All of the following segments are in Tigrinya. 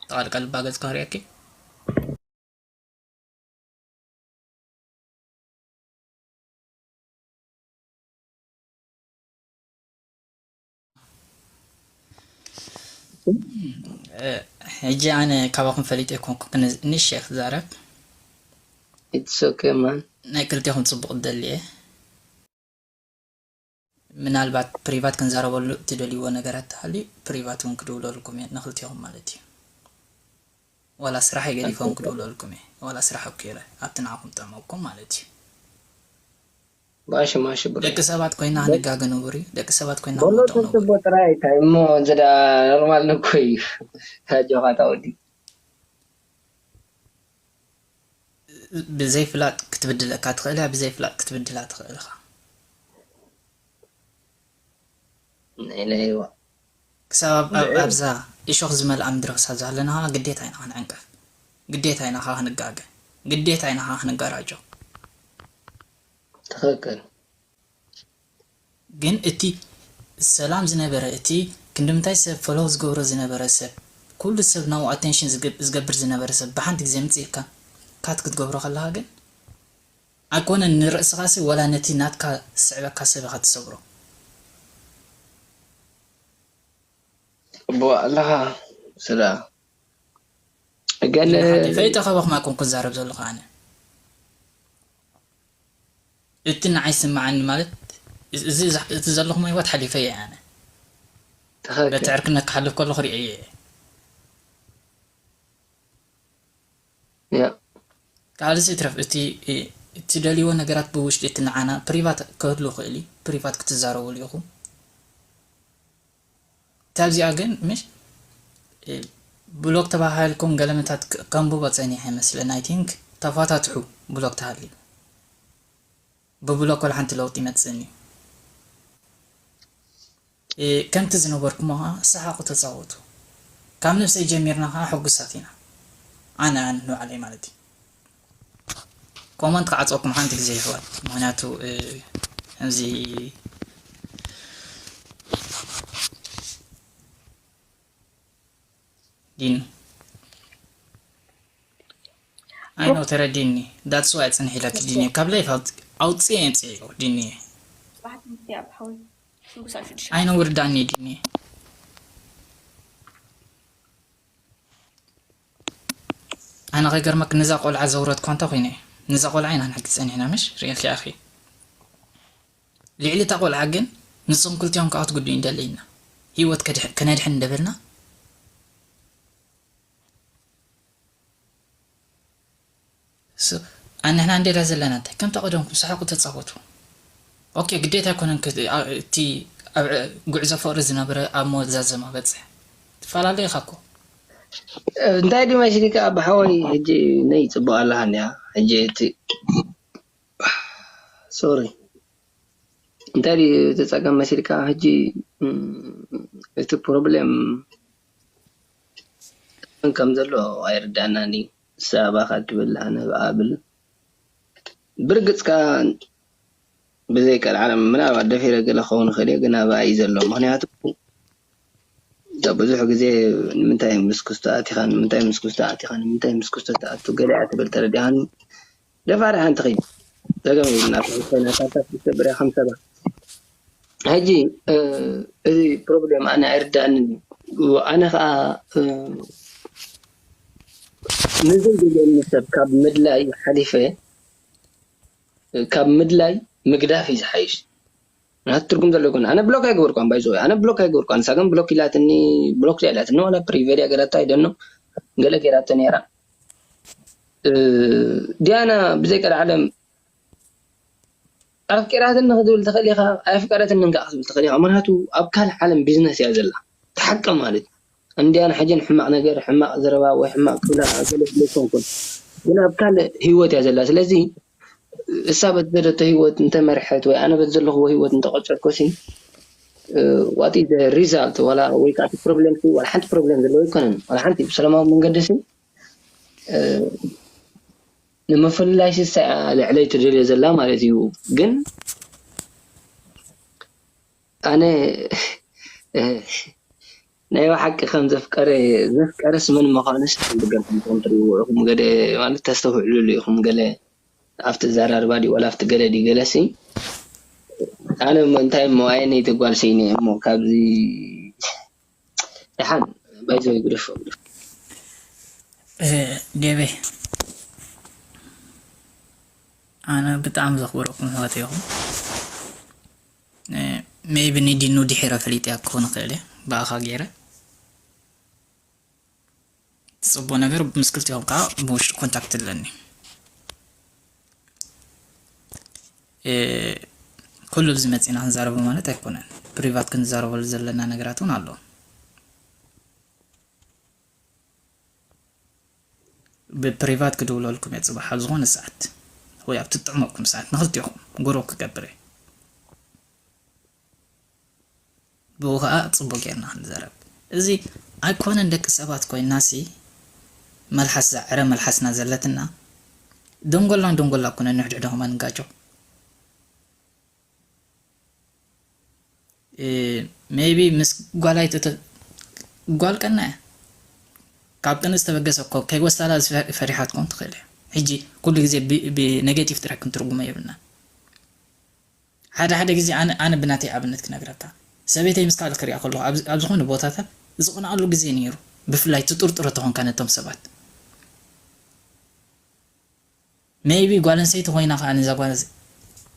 ጠቓል ቃል ባገጽ ክህርያኪ ሕጂ ኣነ ካባኹም ፈሊጠ ኣይኮንኩ ክንሽ እየ ክዛረብ ናይ ክልቴኹም ፅቡቕ ደሊ እየ ምናልባት ፕሪቫት ክንዛረበሉ እትደልይዎ ነገራት ተሃልዩ ፕሪቫት ውን ክድውለልኩም እየ ንክልቴኹም ማለት እዩ ዋላ ስራሐይ ገዲፈ ውን ክድውለልኩም እየ ዋላ ስራሕ ኣብቂረ ኣብቲ ንዓኹም ጥዕመኩም ማለት እዩ ማሺ ማሺ ብሮ ደቂ ሰባት ኮይና ንጋገ ንቡር እዩ ደቂ ሰባት ኮይና በሎ ክንወድቕ ንቡር እዩ ተስቦ ጥራይ ኣይታይ እሞ እዚ ደኣ ኖርማል እኮ እዩ ኣጆኻ እታ ወዲ። ብዘይፍላጥ ክትብድለካ ትኽእል እያ ብዘይፍላጥ ክትብድላ ትኽእል እኻ። ናይ ለይዋ ክሳብ ኣብ ኣብዛ እሾኽ ዝመልኣ ምድሪ ክሳብ ዝሃለናኻ ግዴታ ኢና ክንዕንቀፍ ግዴታ ኢና ከኣ ክንጋገ ግዴታ ኢና ከኣ ክንጋራጮ። ትኽክል። ግን እቲ ሰላም ዝነበረ እቲ ክንድምንታይ ሰብ ፎሎው ዝገብሮ ዝነበረ ሰብ ኩሉ ሰብ ናብኡ ኣቴንሽን ዝገብር ዝነበረ ሰብ ብሓንቲ ግዜ ምጽእ ኢልካ ካት ክትገብሮ ከለኻ ግን ኣይኮነን ንርእስኻሲ ወላ ነቲ ናትካ ዝስዕበካ ሰብ ኢኻ ትሰብሮ። ትቅበኦ ኣለኻ ስላ እገለ። ጊለ ሓደይ ፈሊጠ ከማኹም ኣይኮንኩን ዝዛረብ ዘለኹ ኣነ። እቲ ንዓይ ዝስምዓኒ ማለት እዚ እቲ ዘለኹሞ ሂወት ሓሊፈዮ እየ ኣነ በቲ ዕርክነት ክሓልፍ ከለኹ ሪኤዮ እየ። ካልእስ ይትረፍ እቲ እትደልይዎ ነገራት ብውሽጢ እቲ ንዓና ፕሪቫት ክህሉ ይኽእል እዩ ፕሪቫት ክትዛረብሉ ኢኹም። ካብዚኣ ግን ምሽ ብሎክ ተባሃህልኩም ገለመታት ከንብቦ ጸኒሐ ይመስለኒ ኣይ ቲንክ ተፋታትሑ ብሎክ ተሃልዩ ብብሎክ ወላሓንቲ ለውጢ ኣይመጽእን እዩ ከምቲ ዝነበርኩሞ ከኣ ሰሓቁ ተጻወቱ ካብ ነብሰይ ጀሚርና ከኣ ሕጉሳት ኢና ኣነ ኣነ ንባዕለይ ማለት እዩ። ኮመንት ክዓጽወኩም ሓንቲ ግዜ ይሕዋት ምክንያቱ እዚ ዲን ኣይኖ ተረዲኒ ዳትስ ዋይ ጽንሕ ኢለኪ ዲኒ ካብ ላይፍ ኣውጽኤ ጽዒዮ ዲኒ ኣይኖ ውርዳኒ ዲኒ ኣነ ከይገርመኪ ንዛ ቆልዓ ዘውረድክዋ እንታይ ኮይነ እየ ንዛ ቆልዓ ኢና ንሕግዝ ጸኒሕና ምሽ ርእኪ ኣኺ ሊዕሊ እታ ቆልዓ ግን ንስኹም ክልቲኦም ክኣ ክትጉድኡ ንደሊ ኢና ሂወት ከነድሕን እንደበልና ስቅ ኣን ንሕና እንድየ ድኣ ዘለና እንታይ ከምታ ቀደምኩም ሳሓቁ ተጻወቱ ኦኬ ግዴታ ኣይኮነን እቲ ኣብ ጉዕዞ ፍቅሪ ዝነበረ ኣብ መዛዘማ በጽሕ ትፋላለ ኢካ እኮ። እንታይ ድም ኣይሽግካ ኣባ ሓወይ ሕጂ ነይ ጽቡቅ ኣለካ እንዲያ ሕጂ እቲ ሶሪ እንታይ ድዩ እቲ ጸገም መሲልካ ሕጂ እቲ ፕሮብሌም መን ከም ዘሎ ኣይርደኣናን ድዩ። ንሳ ኣባኻ ትብል ኣነ ብኣ እብል። ብርግጽ ከኣ ብዘይ ቀልዓለም ምናልባት ደፊረ ገለ ክኸውን ይኽእል እየ፣ ግና ብኣ'ዩ ዘሎ። ምኽንያቱ እንተ ብዙሕ ግዜ ንምንታይ ምስ ክስቶ ኣቲኻ፣ ንምንታይ ምስ ክስቶ ኣቲኻ፣ ንምንታይ ምስ ክስቶ ትኣቱ፣ ገለ'ያ ትብል፣ ተረዲእካኒ? ደፋር ሓንቲ ኪድ ጸገም የብልናን ኮይና ሳልሳት ክልተ ብርያ ከም ሰባ ሕጂ እዚ ፕሮብሌም ኣነ ኣይርድኣንን እዩ ኣነ ከኣ ንዘይ ደልየኒ ሰብ ካብ ምድላይ ሓሊፈ ካብ ምድላይ ምግዳፍ እዩ ዝሓይሽ። ናቱ ትርጉም ዘለዎ ኣይኮነን ኣነ ብሎክ ኣይገበርኩዋን ባይ ዘወይ ኣነ ብሎክ ኣይገበርኩዋን ንሳ ግን ብሎክ ኢላትኒ ብሎክ ድያ ኢላትኒ ዋላ ፕሪቨር ድያ ገይራቶ ኣይ ዶንኖ ገለ ገይራቶ ነይራ ዲያና ብዘይ ቀልዓለም ኣፍቂራትኒ ክትብል ትኽእል ኢኻ ኣየፍቀረትንን ከዓ ክትብል ትኽእል ኢኻ ምክንያቱ ኣብ ካልእ ዓለም ቢዝነስ እያ ዘላ ተሓቂ ማለት እንድያን ሕጅን ሕማቕ ነገር ሕማቕ ዘረባ ወይ ሕማቕ ክብላ ገለ ስለ ዝኮንኩን ግን ኣብ ካልእ ሂወት እያ ዘላ ስለዚ እሳ በቲ ዝደለቶ ህይወት እንተ መርሐት ወይ ኣነ በቲ ዘለኹዎ ህይወት እንተ ቀጸልኩሲ what is the result ዋላ ወይ ከኣ እቲ ፕሮብለምሲ ዋላ ሓንቲ ፕሮብለም ዘለዎ ኣይኮነን ዋላ ሓንቲ ብሰላማዊ መንገዲሲ ንምፍልላይሲ እሳ እያ ልዕለይ ትደልዮ ዘላ ማለት እዩ ግን ኣነ ናይ ባሓቂ ከም ዘፍቀረ ዘፍቀረስ መን ምካኑ ስሓብ ገርኩም እንተ ትሪኢዎ ኢኩም ገለ ማለት ተስተውዕልሉ ኢኩም ገለ ኣብቲ ኣዛራርባ ድዩ ዋላ ኣብቲ ገለ ድዩ ገለሲ ኣነ እሞ እንታይ እሞ ኣየነይቲ ጋል ሲኢነ እየ እሞ ካብዚ ዳሓን ባይዘወይ ግደፎ ግደፎ። ዴቨይ ኣነ ብጣዕሚ ዘኽብረኩም ኣሕዋተይ ኢኹም። ሜይቢ ንዲኑ ድሒረ ፈሊጠያ ክኾን ይኽእል እየ ብኣኻ ገይረ ጽቡቅ ነገር ምስ ክልቲኦም ከዓ ብውሽጢ ኮንታክት ኣለኒ ኩሉ ብዚ መጺና ክንዛረቡ ማለት ኣይኮነን ፕሪቫት ክንዛረበሉ ዘለና ነገራት እውን ኣሎ ብፕሪቫት ክድውለልኩም እየ ጽባሕ ኣብ ዝኾነ ሰዓት ወይ ኣብ ትጥዕመኩም ሰዓት ንኽልቴኹም ጉሩብ ክገብር እየ ብኡ ከኣ ጽቡቅ ጌርና ክንዘረብ እዚ ኣይኮነን ደቂ ሰባት ኮይናሲ መልሓስ እዛ ዕረ መልሓስና ዘለትና ደንጎላ ንደንጎላ ኩነ ንሕድሕዶ ከማ ንጋጮ። ሜይቢ ምስ ጓል ኣይተተ ጓል ቀና እያ ካብ ቅን ዝተበገሰ እኮ ከይወስዳላ ፈሪሓ ትኮን ትኽእል እያ ሕጂ ኩሉ ግዜ ብኔጌቲቭ ጥራሕ ክንትርጉሞ የብልናን ሓደ ሓደ ግዜ ኣነ ኣነ ብናተይ ኣብነት ክነግረካ ሰበይተይ ምስ ካልእ ክሪኣ ከለኹ ኣብ ኣብ ዝኾነ ቦታታት ዝቕንኣሉ ግዜ ነይሩ ብፍላይ ትጥርጥሮ ተኾንካ ነቶም ሰባት Maybe ጓል ኣንስተይቲ ኮይና ከኣ ነዛ ጓል ኣንስ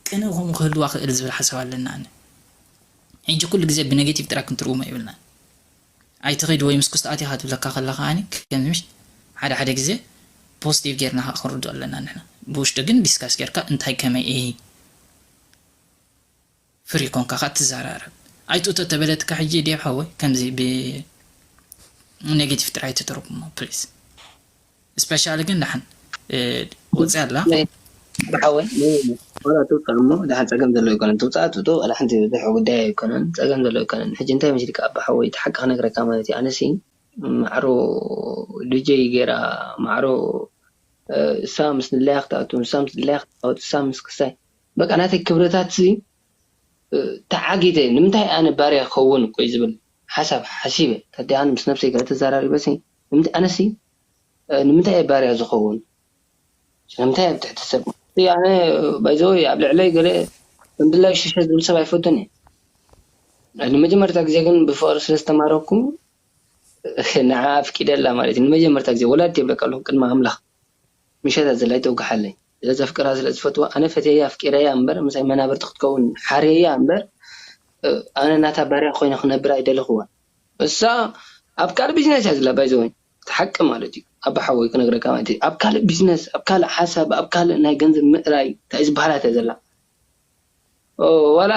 ቅንኢ ከምኡ ክህልዋ ክእል ዝብል ሓሳብ ኣለኒ ኣነ ሕጂ ኩሉ ግዜ ብነገቲቭ ጥራይ ክንትርጉሞ የብልናን ኣይትኺድ ወይ ምስ ኩስታኣት ኢኻ ትብለካ ከላ ከኣ ከምዚ ምሽ ሓደ ሓደ ግዜ ፖስቲቭ ጌርና ከኣ ክንርድኦ ኣለና ንሕና ብውሽጢ ግን ዲስካስ ጌርካ እንታይ ከመይ እይ ፍሪ ኮንካ ከኣ ትዛራረብ ኣይ ጡጦ ተበለትካ ሕጂ ዴቭ ሓወይ ከምዚ ብ ኔጌቲቭ ጥራይ ኣይትተርጉሞ ፕሊስ እስፔሻሊ ግን ዳሓን ወጽያ ኣላ። ዴቭ ሓወይ ን ዋላ ትውጻእ እሞ ዳሓን ጸገም ዘለዎ ኣይኮነን ትውጻእ ጡጦ ዋላ ሓንቲ ዝብዝሕ ጉዳይ ኣይኮነን ጸገም ዘለዎ ኣይኮነን ሕጂ እንታይ መሲልካ ኣባ ሓወይ እቲ ሓቂ ክነግረካ ማለት እዩ ኣነሲ ማዕሮ ዱጀይ ጌራ ማዕሮ እሳ ምስ ድላያ ክትኣቱ ንሳ ምስ ድላያ ክትጻወት እሳ ምስ ክሳይ በቃ ናተይ ክብረታትሲ ተዓጊተ ንምንታይ ኣነ ባርያ ክከውን ቆይ ዝብል ሓሳብ ሓሲበ ከዲ ኣነ ምስ ነብሰይ ገለ ተዛራሪበሲ ንምንታይ ኣነሲ ንምንታይ እየ ባርያ ዝከውን ስለምንታይ ኣብ ትሕቲ ሰብ እቲ ኣነ ባይ ዘ ወይ ኣብ ልዕለይ ገለ ከም ድላዩ ሸሸ ዝብል ሰብ ኣይፈቱን እየ ንመጀመርታ ግዜ ግን ብፍቅሪ ስለ ዝተማረኩ ንዓኣ ኣፍቂደላ ማለት እዩ ንመጀመርታ ግዜ ወላዲተይ ይብለካ ኣለኩ ቅድሚ ኣምላክ። ምሸት ኣዘላይ ተውግሓለይ ስለ ዘፍቅራ ስለ ዝፈትዋ ኣነ ፈትየያ ኣፍቂረያ እምበር ምሳይ መናብርቲ ክትከውን ሓርየያ እምበር ኣነ ናታ ባርያ ኮይነ ክነብር ኣይደለክዋን እሳ ኣብ ካልእ ቢዝነስ እያ ዘላ ባይዘወይ እቲ ሓቂ ማለት እዩ ኣባ ሓወይ ክነግረካ ማለት እዩ ኣብ ካልእ ቢዝነስ ኣብ ካልእ ሓሳብ ኣብ ካልእ ናይ ገንዘብ ምእራይ ታይ ዝበሃላት እያ ዘላ ዋላ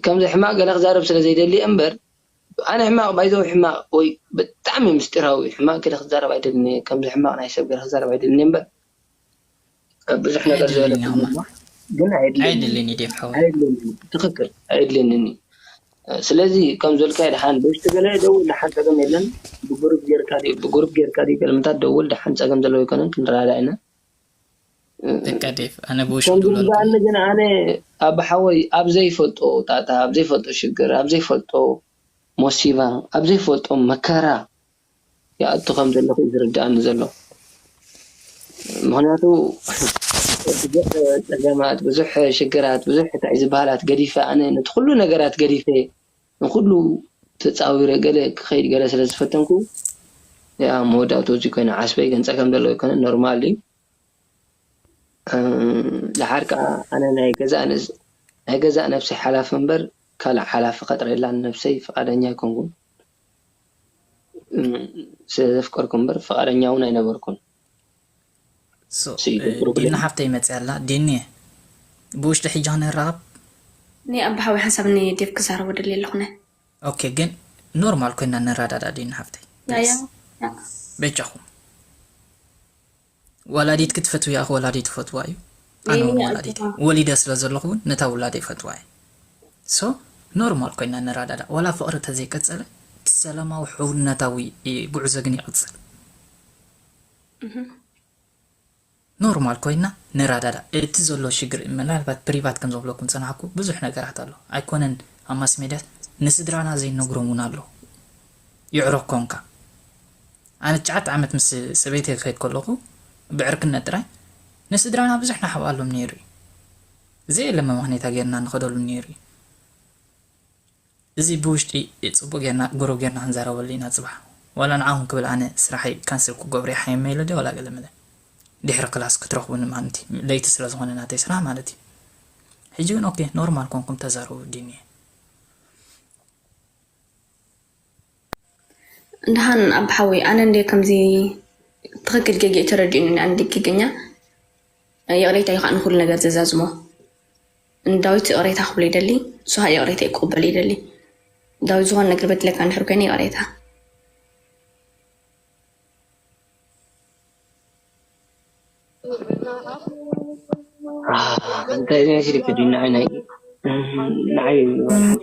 ከምዚ ሕማቅ ገለ ክዛረብ ስለ ዘይደሊ እየ እምበር ኣነ ሕማቅ ባይዘወይ ሕማቅ ወይ ብጣዕሚ ምስጢራዊ ሕማቅ ገለ ክዛረብ ኣይደልን እየ ከምዚ ሕማቅ ናይ ሰብ ገለ ክዛረብ ኣይደልን እየ እምበር ብዙሕ ነገር ዝበለ ኩሉኳ ግን ኣየድልየንን እዩ ኣየድልየንን እዩ ትክክል ኣየድልየንን እዩ ስለዚ ከምዝበልካዮ ደሓን በሽቱ ገለ ደውል ደሓን ጸገም የለን ብጉሩብ ጌርካ ድዩ ብጉሩብ ጌርካ ድዩ ገለ ምንታት ደውል ደሓን ጸገም ዘለዎ ኣይኮነን ክንረዳዳእ ኢና ደቃ ዴቭ ኣነ ብውሽም ከምዚ ድብለልኩም። ዝበሃለኒ ግን ኣነ ኣባ ሓወይ ኣብ ዘይፈልጦ ጣጣ ኣብ ዘይፈልጦ ሽግር ኣብ ዘይፈልጦ ሞሲባ ኣብ ዘይፈልጦ መከራ ይኣቱ ከም ዘለኹ እዩ ዝርድኣኒ ዘሎ ምኽንያቱ ብዙሕ ጸገማት ብዙሕ ሽግራት ብዙሕ ታይ ዝበሃላት ገዲፈ ኣነ ነቲ ኩሉ ነገራት ገዲፈ ንኹሉ ተጻዊረ ገለ ክኸይድ ገለ ስለ ዝፈተንኩ እየ ኣብ መወዳእትኡ እዚ ኮይነ ዓስበይ ገንጸ ከም ዘለዎ ኣይኮነን ኖርማል እዩ ደሓር ከኣ ኣነ ናይ ገዛእ ንስ ናይ ገዛእ ነብሰይ ሓላፊ እምበር ካልእ ሓላፊ ከጥርየላ ንነብሰይ ፍቓደኛ ኣይኮንኩን ስለ ዘፍቀርኩ እምበር ፍቓደኛ እውን ኣይነበርኩን። ዲና ሓፍተይ መፅያ ኣላ ዲኒየ ብውሽጢ ሕጂ ክንራከብ። እኔ ኣባ ሓዊ ሓንሳብ ን ዴቭ ክዛረቦ ደልየ ኣለኩ ን። ኦኬ ግን ኖርማል ኮይና ንረዳዳእ ዲና ሓፍተይ ፕሊስ በጃኩም ወላዲትኪ ትፈትውያ ኢኪ ወላዲይ ትፈትዋ እዩ ኣነ ውን ወላዲት እየ ወሊደ ስለ ዘለኩ ውን ነታ ውላደይ ይፈትዋ እየ ሶ ኖርማል ኮይና ንረዳዳእ ዋላ ፍቅሪ ተዘይቀፀለ እቲ ሰላማዊ ሕውነታዊ ጉዕዞ ግን ይቅፅል። ኖርማል ኮይና ንራዳዳእ እቲ ዘሎ ሽግር ምናልባት ፕሪቫት ከም ዘብለኩም ዝጸናሕኩ ብዙሕ ነገራት ኣሎ ኣይኮነን ኣብ ማስሜድያስ ንስድራና ዘይንነግሮም ውን ኣሎ ይዕሮ ኮንካ ኣነ ትሽዓተ ዓመት ምስ ሰበይተይ ክከይድ ከለኩ ብዕርክነት ጥራይ ንስድራና ብዙሕ ንሓብኣሎም ኔሩ እዩ ዘየለ መመክኔታ ጌርና ንከደሉ ኔሩ እዩ እዚ ብውሽጢ ጽቡቅ ጌርና ጉሩብ ጌርና ክንዛረበሉ ኢና ጽባሕ ዋላ ንዓኹም ክብል ኣነ ስራሐይ ካንስል ክገብሮ ይሓየም መይለ ድየ ዋላ ገለ መለ ዲሕሪ ክላስ ክትረኽቡኒ ማንቲ ለይቲ ስለ ዝኾነ ናተይ ስራሕ ማለት እዩ ሕጂ ግን ኦኬ ኖርማል ኮንኩም ተዛረቡ ዲኒየ ደሃን ኣባ ሓወይ ኣነ እንደ ከምዚ ትክክል ጌጌ ተረዲኡኒ ኣንዲ ጌገኛ ይቕሬታ እዩ ከዓ ንኩሉ ነገር ዘዛዝሞ ንዳዊት ይቕሬታ ክብሎ ይደሊ ሱሃ ይቕሬተይ ክቕበሎ ይደሊ ዳዊት ዝኾነ ነገር በድለካ እንድሕር ኮይነ ይቕሬታ ኣንታይ እዚ መሲልኪ ድዩ ንዓይ ናይ ንዓይ ዋላ ሓንቲ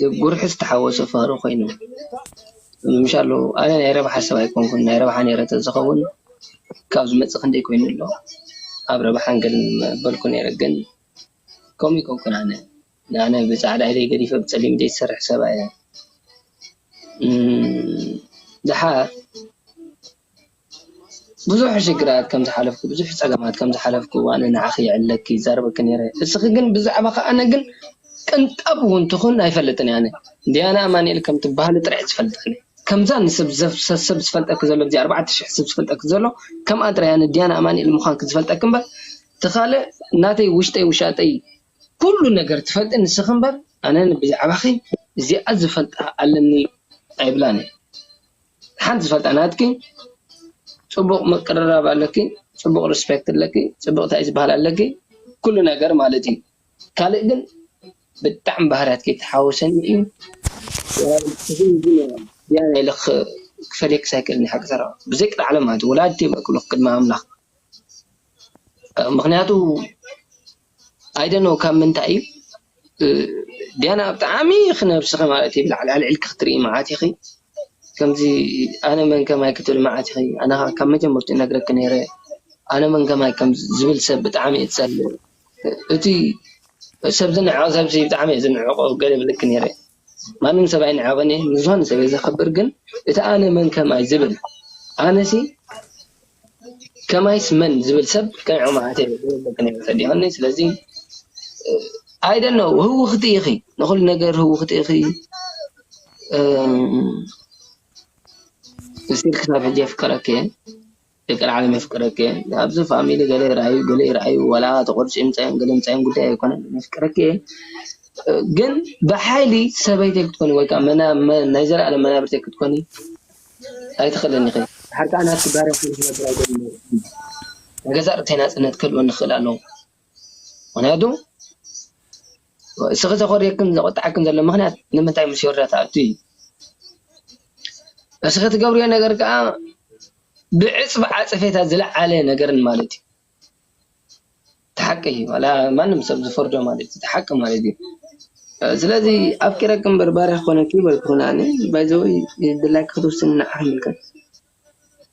ዘጉርሕ ዝተሓወሶ ፍቅሪ ኮይኑ ምምሻሉ ኣነ ናይ ረብሓ ሰብ ኣይኮንኩን ናይ ረብሓ ኔረ ተዝኸውን ካብ ዝመጽእ ክንደይ ኮይኑ ኣሎ ኣብ ረብሓ ገለ ምበልኩ ኔረ ግን ከምኡ ኣይኮንኩን ኣነ ኣነ ብጻዕዳ ኢደይ ገዲፈ ብጸሊም ኢደይ ዝሰርሕ ሰብ ኣየ ድሓር። ብዙሕ ሽግራት ከም ዝሓለፍኩ ብዙሕ ጸገማት ከም ዝሓለፍኩ ኣነ ንዓኺ ይዕለኪ ይዛረበኪ ኔረ እስኺ ግን ብዛዕባኺ ኣነ ግን ቅንጣብ ውን ትኹን ኣይፈልጥን እየ ኣነ ዲያና ኣማኒኤል ከም ትብሃሊ ጥራሕ እየ ዝፈልጥ ኣነ ከምዛ ንሰብ ሰብ ዝፈልጠኪ ዘሎ እዚ ኣርባዕተ ሽሕ ሰብ ዝፈልጠኪ ዘሎ ከምኣ ጥራይ ኣነ ዲያና ኣማኒኤል ምዃንኪ ዝፈልጠኪ እምበር እቲ ካልእ ናተይ ውሽጠይ ውሻጠይ ኩሉ ነገር ትፈልጢ ንስኺ እምበር ኣነ ብዛዕባኺ እዚኣ ዝፈልጣ ኣለኒ ኣይብላን እየ። ሓንቲ ዝፈልጣ ናትኪ ፅቡቅ ምቅርራብ ኣለኪ ፅቡቅ ሪስፔክት ኣለኪ ፅቡቅ ታይ ዝባሃል ኣለኪ ኩሉ ነገር ማለት እዩ ካልእ ግን ብጣዕሚ ባህርያትኪ ተሓውሰኒ እዩ ድያና ኢለ ክፈልየክስ ኣይክእልን ሓቂ ተረኽ ብዘይ ቅጥዓ ዓለም ማለት እዩ ወላዲተይ እየ ክብለኪ ቅድሚ ኣምላክ ምክንያቱ I don't know ካብ ምንታይ እዩ ዲያና ብጣዕሚ ኢኺ ነብስኺ ማለት እዩ ብላዕሊ ኣልዒልኪ ክትሪኢ መዓት ኢኺ ከምዚ ኣነ መን ከማይ ክትብሊ መዓት ኢኺ ኣነ ከኣ ካብ መጀመርትኡ ይነግረኪ ኔረ ኣነ መን ከማይ ዝብል ሰብ ብጣዕሚ እየ ዝጸልእ እቲ ሰብ ዝንዕቕ ሰብ ብጣዕሚ እየ ዝንዕቖ ገለ ይብለኪ ኔረ። ማንም ሰብ ኣይንዕቕን እየ ንዝኾነ ሰብ እየ ዘኽብር ግን እቲ ኣነ መን ከማይ ዝብል ኣነሲ ከማይስ መን ዝብል ሰብ ከይዕቕ ማዓት እየ ዝብለኪ ነይረ ተዲኽኒ ስለዚ ኣይ ዶንት ኖው ህውኽቲ ኢኺ ንኹሉ ነገር ህውኽቲ ኢኺ እስቲል ክሳብ ሕጂ የፍቅረኪ እየ። ደቂ ላዕሊ መፍቅረኪ እየ ኣብዚ ፋሚሊ ገለ ይርኣዩ ገለ ይርኣዩ ዋላ ተቆርፅዮም ምፃዮም ገለ ምፃዮም ጉዳይ ኣይኮነን መፍቅረኪ እየ ግን ብሓይሊ ሰበይተይ ክትኮኒ ወይ ከዓ ናይ ዘለኣለም መናብርተይ ክትኮኒ ኣይትኽእልን ኢኺ ብሓርቃ ናትኪ ባርያ ኮይነ ክነብር ኣይደልን እየ ናይ ገዛእ ርእተይ ናፅነት ክህልወኒ ክኽእል ኣለዎ። ምኽንያቱ እስኺ ዘኾርየክን ዘቆጠዐክን ዘሎ ምኽንያት ንምንታይ ምስ ዮርዳ ትኣቱ እዩ እስኺ ትገብርዮ ነገር ከኣ ብዕጽፊ ዓጸፌታ ዝለዓለ ነገር ማለት እዩ እቲ ሓቂ ዋላ ማንም ሰብ ዝፈርዶ ማለት እዩ እቲ ሓቂ ማለት እዩ ስለዚ ኣፍቂረኪ እምበር ባርያ ክኾነኪ ኣይበልኩኽን ኣነ ባይዘወይ ድላይኪ ክትውስኒ ንዓኺ ይምልከት።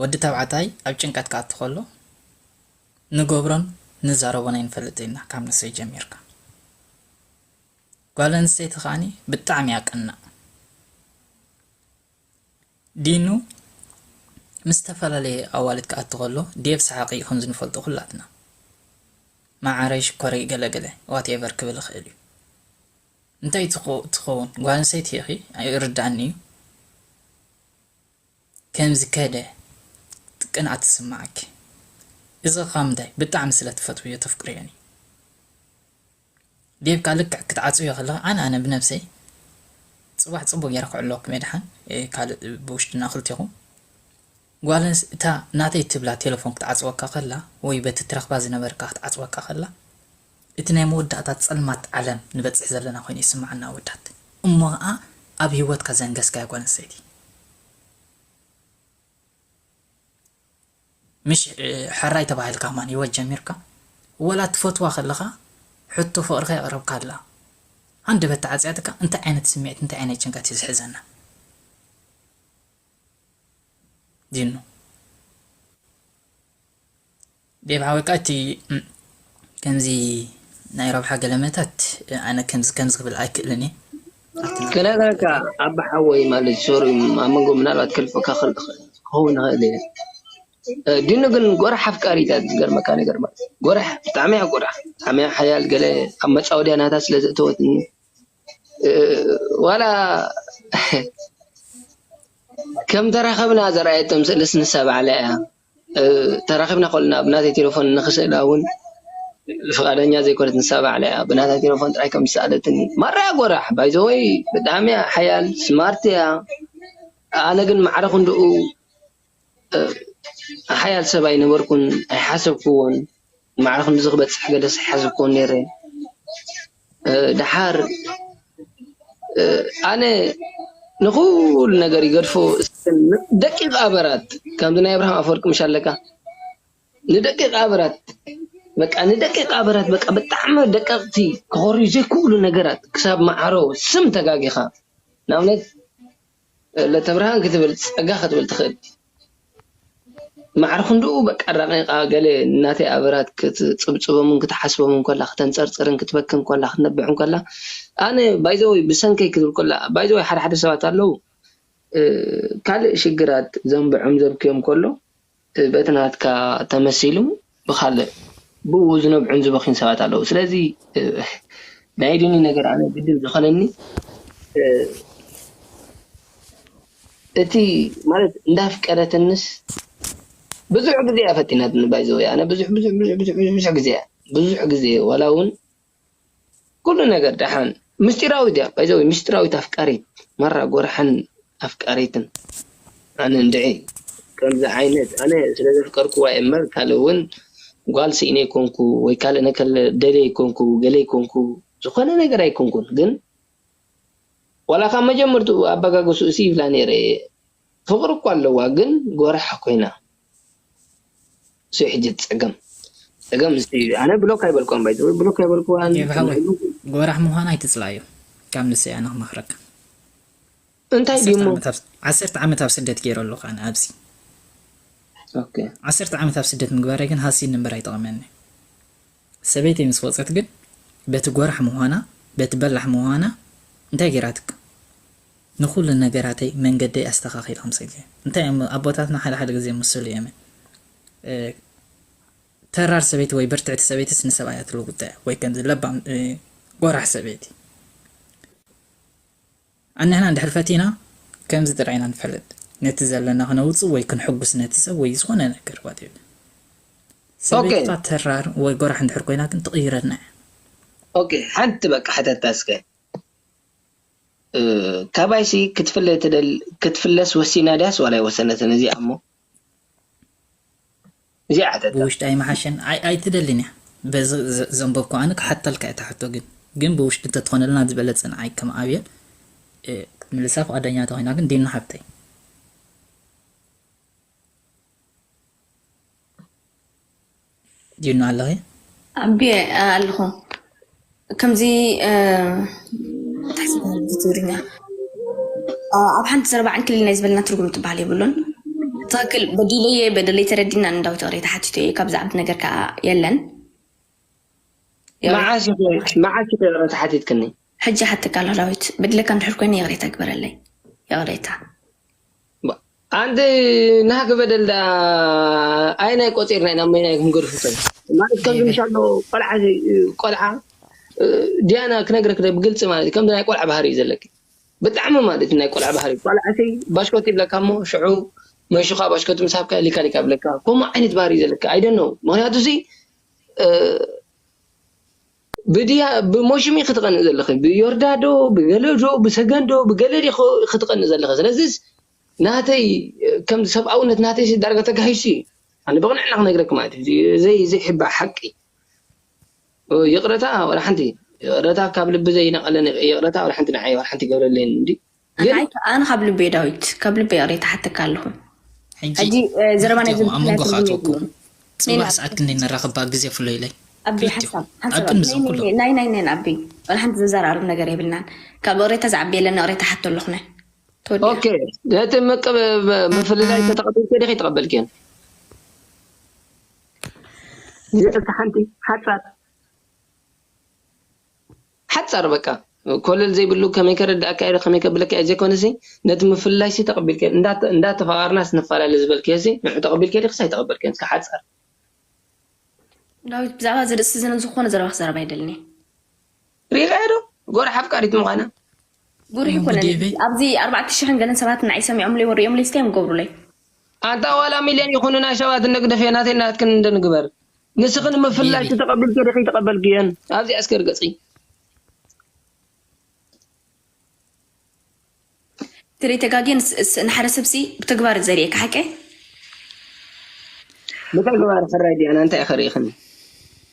ወዲ ተባዕታይ ኣብ ጭንቀት ክኣቱ ከሎ ንገብሮን ንዛረቦን ኣይንፈልጥን ኢና ካብ ንሰይ ጀሚርካ ጓል ኣንስተይቲ ከኣ ብጣዕሚ እያ ቀናእ ዲኑ ምስ ዝተፈላለየ ኣዋልድ ክኣቱ ከሎ ዴቭ ሰሓቂ እዩ ከምዚ ንፈልጦ ኩላትና መዓረይ ሽኮረይ ገለ ገለ ዋትኤቨር ክብል ይኽእል እዩ እንታይ ትኸውን ጓል ኣንስተይቲ ኢኺ ይርድኣኒ እዩ ከም ዝከደ ቅንኣት ዝስማዓኪ እዚ ከ ምንታይ ብጣዕሚ ስለ ትፈትውዮ ተፍቅርዮን እዩ ዴቭ ከኣ ልክዕ ክትዓጽውዮ ከለኪ ኣነ ኣነ ብነብሰይ ጽባሕ ጽቡቅ ጌረ ክዕልወኩም እየ ድሓን ካልእ ብውሽጥና ክልቴኩም ጓል ኣንስ እታ ናተይ ትብላ ቴለፎን ክትዓጽወካ ከላ ወይ በቲ ትረክባ ዝነበርካ ክትዓጽወካ ከላ እቲ ናይ መወዳእታ ጸልማት ዓለም ንበጽሕ ዘለና ኮይኑ ይስምዓኒ ኣወዳት እሞ ከኣ ኣብ ሂወትካ ዘንገስካያ ጓል ኣንስተይቲ ምሽ ሐራይ ተባሂልካ ከማን ሂወት ጀሚርካ ወላ ትፈትዋ ከለኻ ሕቶ ፍቅርካ የቅረብካላ ሃንደበት ተዓጽያትካ እንታይ ዓይነት ስሚዕት እንታይ ዓይነት ጭንቀት እዩ ዝሕዘና ዲኑ። ዴቭ ሓወይ ከኣ እቲ ከምዚ ናይ ረብሓ ገለመታት ኣነ ከምዚ ከምዚ ክብል ኣይክእልን እየ ኣትና ክነግረካ ኣባ ሓወይ ማለት ሶሪ ኣብ መንጎ ምናልባት ከልፈካ ክኸውን ይኽእል እየ ዲኑ ግን ጎራሕ ኣፍቃሪት እያ ዝገርመካ ነገር ማለት እዩ ጎራሕ ብጣዕሚ እያ ጎራሕ ብጣዕሚ እያ ሓያል ገለ ኣብ መጻወድያ ናታ ስለ ዘእተወትኒ ዋላ ከም ተራኸብና ዘርኣየቶም ስእልስ ንሳ ባዕላ እያ ተራኺብና ከሎና ብናተይ ቴለፎን ንኽስእላ ውን ፍቓደኛ ዘይኮነት ንሳ ባዕላ እያ ብናታ ቴለፎን ጥራይ ከም ዝሰኣለትኒ ማራ እያ ጎራሕ ባይ ዘ ዌይ ብጣዕሚ እያ ሓያል ስማርት እያ ኣነ ግን ማዕረ ክንድኡ ሓያል ሰብ ኣይነበርኩን ኣይሓሰብኩዎን። ማዕረ ክንድዚ ክበጽሕ ገደስ ኣይሓሰብኩዎን ኔረ ደሓር ኣነ ንኹሉ ነገር ይገድፎ ደቂቅ ኣበራት ከምዚ ናይ ኣብርሃም ኣፈወርቂ ምሽ ኣለካ ንደቂቅ ኣበራት በቃ ንደቂቅ ኣበራት በቃ ብጣዕሚ ደቀቅቲ ክኾርዩ ዘይክእሉ ነገራት ክሳብ ማዓሮ ስም ተጋጊኻ ንኣብነት ለተብርሃን ክትብል ጸጋ ክትብል ትክእል ማዕረ ክንድኡ በቃ ራቂቃ ገለ ናተይ ኣበራት ክትጽብጽቦምን ክትሓስቦምን ኮላ ከተንጸርጽርን ክትበክን ኮላ ክትነብሕን ኮላ ኣነ ባይ ዘ ወይ ብሰንከይ ክትብል ኮላ ባይ ዘ ወይ ሓደ ሓደ ሰባት ኣለዉ ካልእ ሽግራት ዘንብዖም ዘብክዮም ኮሎ በቲ ናትካ ተመሲሉ ብካልእ ብኡ ዝነብዑን ዝበኽዩን ሰባት ኣለዉ ስለዚ ናይ ዲኒ ነገር ኣነ ግድን ዝኾነኒ እቲ ማለት እንዳፍቀረትንስ ብዙሕ ግዜ እያ ፈቲናትኒ ባይዘወይ ኣነ ብዙሕ ብዙሕ ብዙሕ ብዙሕ ብዙሕ ግዜ እያ ብዙሕ ግዜ ዋላ ውን ኩሉ ነገር ደሓን ምስጢራዊት እያ ባይ ዘ ዌይ ምስጢራዊት ኣፍቃሪት ማራ ጎርሓን ኣፍቃሪትን ኣነ እንድዒ ከምዚ ዓይነት ኣነ ስለ ዘፍቀርክዋ እየ እምበር ካልእ ውን ጓል ስኢነ ኣይኮንኩ ወይ ካልእ ነከለ ደልየ ኣይኮንኩ ገለ ኣይኮንኩ ዝኾነ ነገር ኣይኮንኩን ግን ዋላ ካብ መጀመርትኡ ኣበጋግስኡሲ ይብላ ነይረ እየ ፍቅሪ እኮ ኣለዋ ግን ጎራሕ ኮይና እሱይ ሕጂ እቲ ፀገም ፀገም እሱይ እዩ ኣነ ብሎክ ኣይበልክዋን ባይ ዘ ወይ ብሎክ ኣይበልክዋን ዴቭ ሓወይ ጎራሕ ምኳና ኣይትፅላኣዮ ካብ ንሰይ ኣነ ክመክረካ። እንታይ ድዩ እሞ? ዓሰርተ ዓመት ኣብ ስደት ጌረ ኣለኹ ኣነ ኣብዚ። ኦኬ። ዓሰርተ ዓመት ኣብ ስደት ምግባረይ ግን ሃሲኒ እምበር ኣይጠቐመንን። ሰበይተይ ምስ ወጸት ግን በቲ ጎራሕ ምዃና በቲ በላሕ ምዃና እንታይ ጌራትካ? ንኹሉ ነገራተይ መንገደይ ኣስተኻኺላ ኣምሰገ እንታይ እሞ ኣቦታትና ሓደ ሓደ ግዜ ምስሉ እየመ ተራር ሰበይቲ ወይ ብርትዕቲ ሰበይትስ ንሰብኣያ ትልውጠ ወይ ከምዚ ለባም ጎራሕ ሰበይቲ ኣንሕና እንድሕር ፈቲና ከምዚ ጥራይ ኢና ንፈልጥ ነቲ ዘለና ክነውጽእ ወይ ክንሕጉስ ነቲ ሰብ ወይ ዝኾነ ነገር whatever ሰበይትኻ ተራር ወይ ጎራሕ እንድሕር ኮይና ግን ትቕይረልና እያ። ኦኬ ሓንቲ በቃ ሕተታ እስከ ካባይሲ ክትፍለ ትደሊ ክትፍለስ ወሲና ድያስ ዋላ ኣይወሰነትን እዚኣ እሞ። ብውሽጢ ኣይምሓሸን ዓይ ኣይትደልን እያ በዚ ዘንበብኩ ኣነ ክሓተልካ እየ እታ ሕቶ ግን ግን ብውሽጢ እንተትኾነልና ዝበለጸ ንዓይ ከም ኣብየል ክትምልሳ ፍቃደኛ ተኾይና ግን ዲና ሓብተይ። ዲኑ ኣለኺ? ኣቢየ ኣለኹ። ከምዚ ትሓስብ ነበር ትግርኛ ኣብ ሓንቲ ዘረባ ዕንክሊል ናይ ዝበልና ትርጉም ትበሃል የብሉን። ትኽክል በዲለየ በደለይ ተረዲና ንዳዊት እቕሬ ተሓቲቱ እየ ካብ ዝዓብድ ነገር ከዓ የለን። መዓስ ኢኺ ይቕረታ ሓቲትክኒ? ሕጂ ይሓተካ ኣለኹ ዳዊት በዲለካ እንድሕር ኮይነ ይቕሬታ ግበረለይ። ይቕሬታ። ኣንተ ናህክ በደል ደኣ ኣይናይ ቆፂርና ኢና መይናይ ክንገድፉ ከ ማለት ከምዚ ምስ ኣሎ ቆልዓ ቆልዓ ዲያና ክነግረክ ደ ብግልፂ ማለት ከምዚ ናይ ቆልዓ ባህሪ እዩ ዘለኪ ብጣዕሚ ማለት ናይ ቆልዓ ባህሪ ቆልዓተይ ባሽኮት ይብለካ እሞ ሽዑ መንሽኻ ባሽኮት ምስ ሃብካ ሊካ ሊካ ይብለካ ከምኡ ዓይነት ባህሪ እዩ ዘለካ ኣይደነው ምክንያቱ እዚ ብድያ ብሞሽም ኢኪ ትቀንኢ ዘለኪ ብዮርዳ ዶ ብገለ ዶ ብሰገን ዶ ብገለ ዲኪ ትቀንኢ ዘለኪ ስለዚስ ናተይ ከም ሰብኣውነት ናተይሲ ዳርጋ ተጋሂሱ ኢዩ ኣነ ብቅንዕና ክነግረኪ ማለት ኢዩ ዘይ ዘይሕባእ ሓቂ ይቅረታ ዋላ ሓንቲ ይቅረታ ካብ ልቢ ዘይነቀለ ይቅረታ ዋላ ሓንቲ ንዓይ ዋላ ሓንቲ ኣይገብረለይን እንድዩ። ኣንዓይ ከኣ ካብ ልበይ ዳዊት ካብ ልበይ ይቕሬታ ሓተካ ኣለኹ ሕጂ ዘረባ ናይ ኣብ መንጎኻ ኣትወኩም ጽባሕ ሰዓት ክንደይ ንራኸብ ባእ ግዜ ፍሎይለይ ኣቢ ሓሳብ ናይ ናይ ናይ ኣቢ ወላ ሓንቲ ዘዛራርብ ነገር የብልናን ካብ እቕሬታ ዝዓቢ የለን ንእቕሬታ ሓቶ ኣለኹነ ኦኬ ነቲ ምፍልላይ ተተቐበልኪ ዲኺ ተቐበልክየን እቲ ሓንቲ ሓጻር ሓጻር በቃ ኮለል ዘይብሉ ከመይ ከረድኣካ ኢለ ከመይ ከብለካ ኢየ ዘይኮነሲ ነቲ ምፍልላይሲ ተቀቢልካዮ እንዳ እንዳ ተፋቀርናስ ንፋላለ ዝበልክዮሲ ንዑ ተቀቢልክዮ ዲክስ ኣይተቀበልክዮን እስከ ሓጻር። ዳዊት ብዛዕባ እዚ ርእሲ እዚ ዝኾነ ዘረባ ክዛረብ ኣይደልን እየ። ሪኢኻዮ ዶ ጎራሕ ኣፍቃሪት ምዃና? ጉርሒ ወይም ኮነ ጉዴቤ ኣብዚ ኣርባዕተ ሽሕን ገለን ሰባት ንዓይ ሰሚዖምለይ ወሪኦምለይ እስከ እዮም ገብሩለይ ኣንታ ዋላ ሚልዮን ይኹኑ ናይ ሰባት እንደግደፍዮ ናተይን ናትክን እንዶ ንግበር ንስኺ ንምፍልላይ ቢቢ ተተቐቢልክዮ ዲኺ ኣይተቐበልክዮን ኣብዚኣ እስከ ርገጺ። ትሪኢ ተጋግየ ንስ ንሓደ ሰብሲ ብተግባር ዘርእየካ ሓቀይ ብተግባር ሕራይ ዲያና እንታይ ኢኺ ርኢኽኒ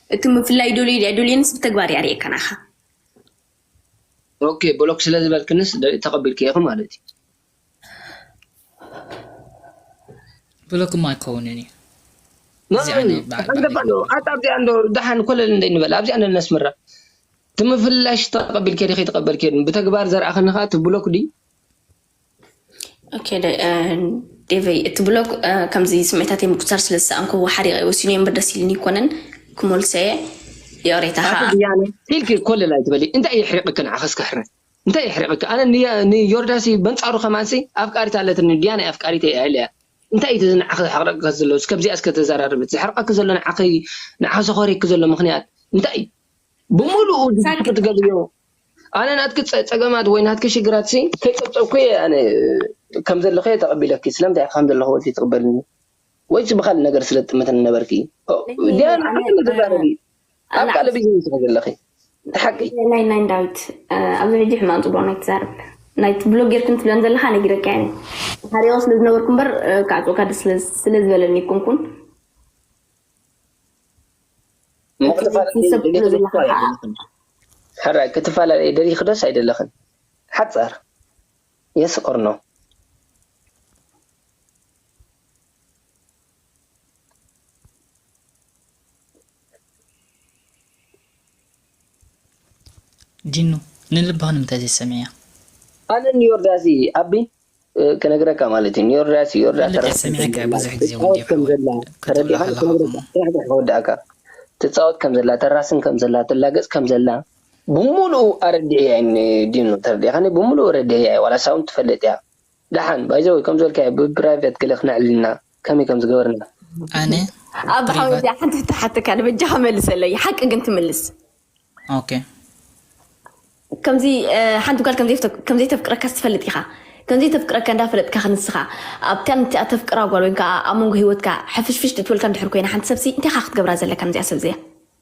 እቲ ምፍላይ ይደልዩ ድዩ ኣይደልዩንስ ብተግባር እያ ርእየካ ናኻ ኦኬ ብሎክ ስለ ዝበልክንስ ደ- ተቐቢልክዮ ኢኺ ማለት እዩ ብሎክ እሞ ኣይከውንን እዩ መን ኣንገፋዕዶ ኣታ ኣብዚኣ እንዶ ደሓን ኮለል እንደ ንበል ኣብዚኣ እንዶ ነስምራ እቲ ምፍልላይ ሽቶ ተቐቢልኪ ድኺ ተቐበልኪ ብተግባር ዘርኣኽኒ ኸኣ እቲ ብሎክ ድዩ ዴቨይ እቲ ብሎክ ከምዚ ስሜታተይ ምቁፅፃር ስለ ዝሰኣንኩ ሓሪቐ ወሲኑ እየ እምበር ደስ ኢልኒ ይኮነን ክመልሶ እየ ይቕሬታኻ ኢልኪ ኮለል ኣይትበሊ እንታይ የሕሪቕኪ ንዓኸስ ክሕረስ እንታይ የሕሪቅኪ ኣነ ንዮርዳስይ በንጻሩ ከማንስይ ኣፍቃሪት ኣለትኒ ዲያናይ ኣፍቃሪተይ እያ ኢለያ እንታይ እዩ እዚ ንዓኺ ዘሕቅረቅኪ ዘሎ እስከ ብዚኣ እስከ ተዛራርብት ዘሕርቀኪ ዘሎ ንዓኺ ንዓኺ ዘኾርየኪ ዘሎ ምኽንያት እንታይ እዩ ብምሉኡ ድስኩ ትገብርዮ ኣነ ናትኪ ጸገማት ወይ ናትኪ ሽግራትሲ ከይጸብጸብኩ እየ ኣነ ከም ዘለኺ እየ ተቐቢለኪ ስለምንታይ ኢኺ ከም ዘለኺ ወልኪ ትቕበልኒ ወይስ ብኻልእ ነገር ስለ ትጥመተኒ ነበርኪ ዲያና ሓቂ ተዛረቢ ኣብ ካልእ ቢዝነስ ኢኺ ዘለኺ እቲ ሓቂ። ናይ ናይ ዳዊት ኣብዚ ሕጂ ሕማቅ ጽቡቅ ናይ ትዛረብ ናይቲ ብሎግ ጌርክን ትብለን ዘለካ ነጊረካ እየ ሓሪቀ ስለ ዝነበርኩ እምበር ካዕጽወካ ደስ ስለ ዝበለኒ ይኩንኩን ሕራይ ክትፈላለየ ደሊኺ ዶስ ኣይደለኽን ሓጻር የስ ኦር ኖ ጂኑ ንልብኻ ንምታይ ዘይትሰምዕያ። ኣነ ንዮርዳሲ ኣቢ ክነግረካ ማለት እዩ ንዮርዳሲ ዮርዳ ንልብዒ ትራክተር ሰሚዐካ እየ ከምዘላ ብዙሕ ግዜ ወዲ ትጻወት ሓወይ ከምዘላ ክትብሎ ተረዲኻ ከለኻ ክነግረካ ከምኡ ጥራሕ ጥራሕ ክወድኣካ ትጻወት ከምዘላ ተራስን ከምዘላ ትላገጽ ከምዘላ ብሙሉኡ ኣረዲኤያ እየ ን ጂኑ ተረዲእካኒ ብሙሉኡ ኣረዲኤያ እየ ዋላ ሳውን ትፈልጥ እያ ዳሓን ባይ ዘ ወይ ከምዚ በልካዮ ብ ፕራይቨት ገለ ክነዕልልና ከመይ ከም ዝገበርና። ኣነ ኣባ ሓወይ ፕሪቫት እዚኣ ሓንቲ ሕቶ ክሓተካ ኣነ በጃኻ መልሰለይ ሓቂ ግን ትምልስ ኦኬ ከምዚ እ፣ ሓንቲ ጓል ከምዘይፍተ- ከምዘይተፍቅረካስ ትፈልጥ ኢኻ ከምዘይተፍቅረካ እንዳፈለጥካ ክንስኻ ኣብታ ንቲኣ ተፍቅራ ጓል ወይም ከዓ ኣብ መንጎ ሂወትካ ሕፍሽፍሽ ትእትወልካ እንድሕር ኮይና ሓንቲ ሰብሲ እንታይ ኢኻ ክትገብራ ዘለካ ነዚኣ ሰብ እዚኣ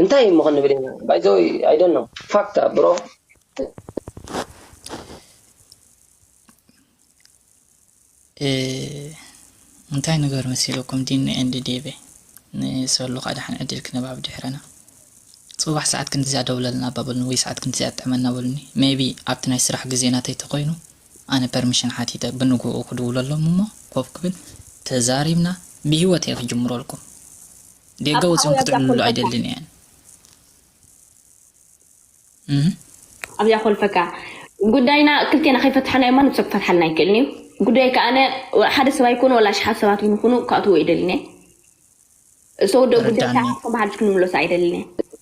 እንታይ እሞ ክንብል ኢና ባይ ዘ ወይ ኣይ ዶንት ኖው ፋክት ኣ ብሮ። እንታይ ንገር መሲልኩም ዲኒ ኤንድ ዴቬ ንሰሉ ከኣ ደሓን ዕድል ክንብ ኣብ ድሕረና። ጽባሕ ሰዓት ክንድዚኣ ደውለልና እባ በሉኒ ወይ ሰዓት ክንድዚኣ ጥዕመና በሉኒ ሜይቢ ኣብቲ ናይ ስራሕ ግዜ ናተይ ተኮይኑ ኣነ ፐርሚሽን ሓቲተ ብንግሆኡ ክድውለሎም እሞ ኮፍ ክብል ተዛሪብና ብሂወተይ ክጅምረልኩም። ጌጋ ወፂኦም ክጥዕምሉ ኣይደልን እየ ኣብዚኣ ኮልፈካ ጉዳይና ክልቴና ከይፈታሕናዮ ማንም ሰብ ክፈትሓልና ኣይክእልን እዩ ጉዳይ ከኣነ ሓደ ሰብ ኣይኮኑ ወላ ኣሽሓት ሰባት እውን ይኹኑ ክኣትዎ ኣይደልን እየ እሰውዶ ጉዳይ ከኣ ከም ሓድሽ ክንምለሶ ኣይደልን እየ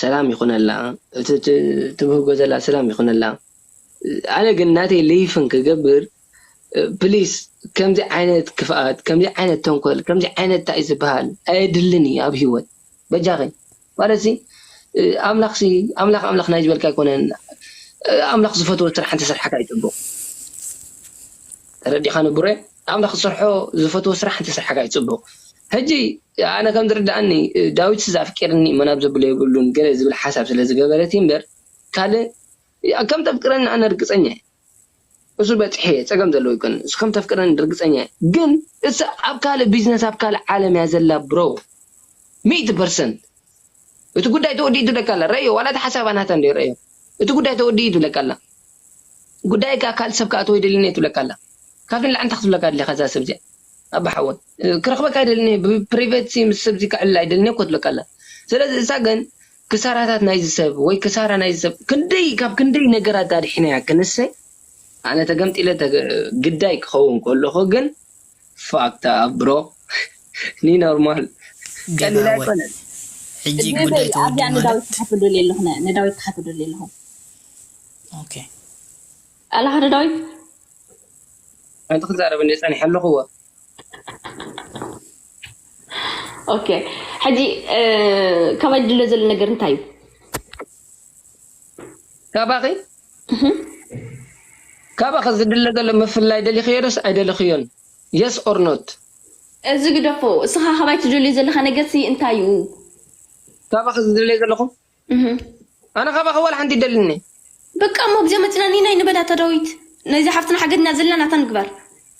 ሰላም ይኩነላ እቲ ትብህጎ ዘላ ሰላም ይኩነላ ኣነ ግን ናተይ ልይፍን ክገብር ፕሊስ ከምዚ ዓይነት ክፍኣት ከምዚ ዓይነት ተንኮል ከምዚ ዓይነት ታይ ዝብሃል ኣየድልን እዩ ኣብ ሂወት በጃኺ ማለት ሲ ኣምላኽ ሲ ኣምላኽ ኣምላኽ ናይ ዝበልካ ኣይኮነን ኣምላኽ ዝፈትዎ ስራሕ እንተሰርሕካ እዩ ጽቡቅ ተረዲካኒ ቡሬ። ኣምላኽ ዝሰርሖ ዝፈትዎ ስራሕ እንተ ስርሓካ እዩ ጽቡቅ ሕጂ ኣነ ከም ዝርድኣኒ ዳዊትስ ኣፍቂርኒ እሞ ናብ ዘብሎ የብሉን ገለ ዝብል ሓሳብ ስለ ዝገበረት እዩ እምበር ካልእ ከም ተፍቅረኒ ኣነ ርግጸኛ እየ እሱ በጺሐ እየ ጸገም ዘለዎ ኣይኮነን እሱ ከም ተፍቅረኒ ርግጸኛ እየ ግን እሳ ኣብ ካልእ ቢዝነስ ኣብ ካልእ ዓለም እያ ዘላ ብሮ ሚእቲ ፐርሰንት እቲ ጉዳይ ተወዲኡ ትብለካ ኣላ ረእዮ ዋላ እቲ ሓሳባ ናታ እንድዩ ረእዮ እቲ ጉዳይ ተወዲኡ ትብለካ ኣላ ጉዳይ እካ ካልእ ሰብ ክኣትዎ ኣይደልን እየ ትብለካ ኣላ ካብዚ ንላዕሊ እንታይ ክትብለካ ደሊካ እዛ ሰብ እዚኣ ኣባ ሓወይ ክረክበካ ኣይደልን እየ ብ ፕሪቬትሲ ምስ ሰብ እዚ ክዕልል ኣይደልን እየ እኮ ትብለካ ኣላ ስለዚ እሳ ግን ክሳራታት ናይዚ ሰብ ወይ ክሳራ ናይዚ ሰብ ክንደይ ካብ ክንደይ ነገራት ኣድሒናያ ክንሰ ኣነ ተገምጢለ ግዳይ ክከውን ከለኩ ግን ፋክ ዳት ብሮ ን ኖርማል ቀሊል ኣይኮነን። ሕጂ ግን ጉዳይ ተወዲኡ ማለት ንዳዊት ትሓቱ ዶ ኣለኹም ኦኬ ኣለኻ ዶ ዳዊት ሓንቲ ክዛረብ እንድየ ጸኒሐ ኣለኹዎ። ኦኬ ሕጂ ካባይ ድልዮ ዘሎ ነገር እንታይ እዩ? ካባኺ ካባኺ ዝድለ ዘሎ ምፍልላይ ደሊኽዮ ዶስ ኣይደለኽዮን የስ ኦር ኖት። እዚ ግደፎ እስኻ ካባይ ትደልዮ ዘለኻ ነገር ሲ እንታይ እዩ? ካባኺ ዝደልዮ ዘለኹ? ኣነ ካባኺ ዋላ ሓንቲ ኣይደልን'የ። በቃ እሞ ኣብዚኣ መጺና ኒናይ ንበላ እታ ዳዊት ናይዛ ሓፍትና ሓገድና ዘላ ናታ ንግበር።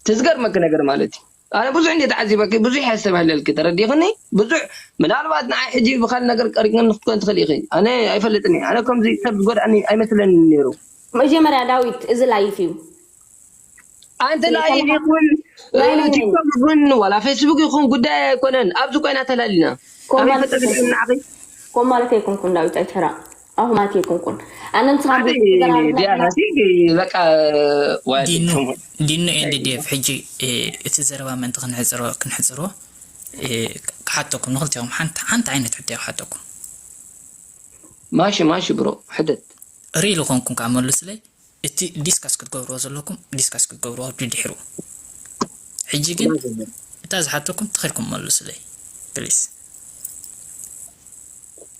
እቲ ዝገርመኪ ነገር ማለት እዩ ኣነ ብዙሕ እንድየ ተዓዚበኪ ብዙሕ እየ ዘስተብህለልኪ ተረዲእኽኒ ብዙሕ ምናልባት ንዓይ ሕጂ ብካልእ ነገር ቀሪብክኒ ክትኮኒ ትኽእሊ ኢኺ ኣነ ኣይፈልጥን እየ ኣነ ከምዚ ሰብ ዝጎድኣኒ ኣይመስለንን ነይሩ መጀመርያ ዳዊት እዚ ላይፍ እዩ ኣንቲ ላይፍ ይኹን ቲክቶክ ይኹን ዋላ ፌስቡክ ይኹን ጉዳይ ኣይኮነን ኣብዚ ኮይና ተላሊና ኮማልት ኮማልት ኣይኮንኩን ዳዊት ኣይትሕረቅ ኣሁማት የኩንኩን ኣነ ንስኻ ዲኑ ኤንድ ዴቭ ሕጂ እቲ ዘረባ ምእንቲ ክንሕፅሮ ክንሕፅሮ ክሓተኩም ንክልቲኹም ሓንቲ ሓንቲ ዓይነት ሕቶ ክሓተኩም ማሺ ማሺ ብሮ ሕተት ሪል ኮንኩም ከዓ መልሱለይ እቲ ዲስካስ ክትገብርዎ ዘለኩም ዲስካስ ክትገብርዎ ድድሕሩ ሕጂ ግን እታ ዝሓተኩም ተኺልኩም መልሱለይ ፕሊስ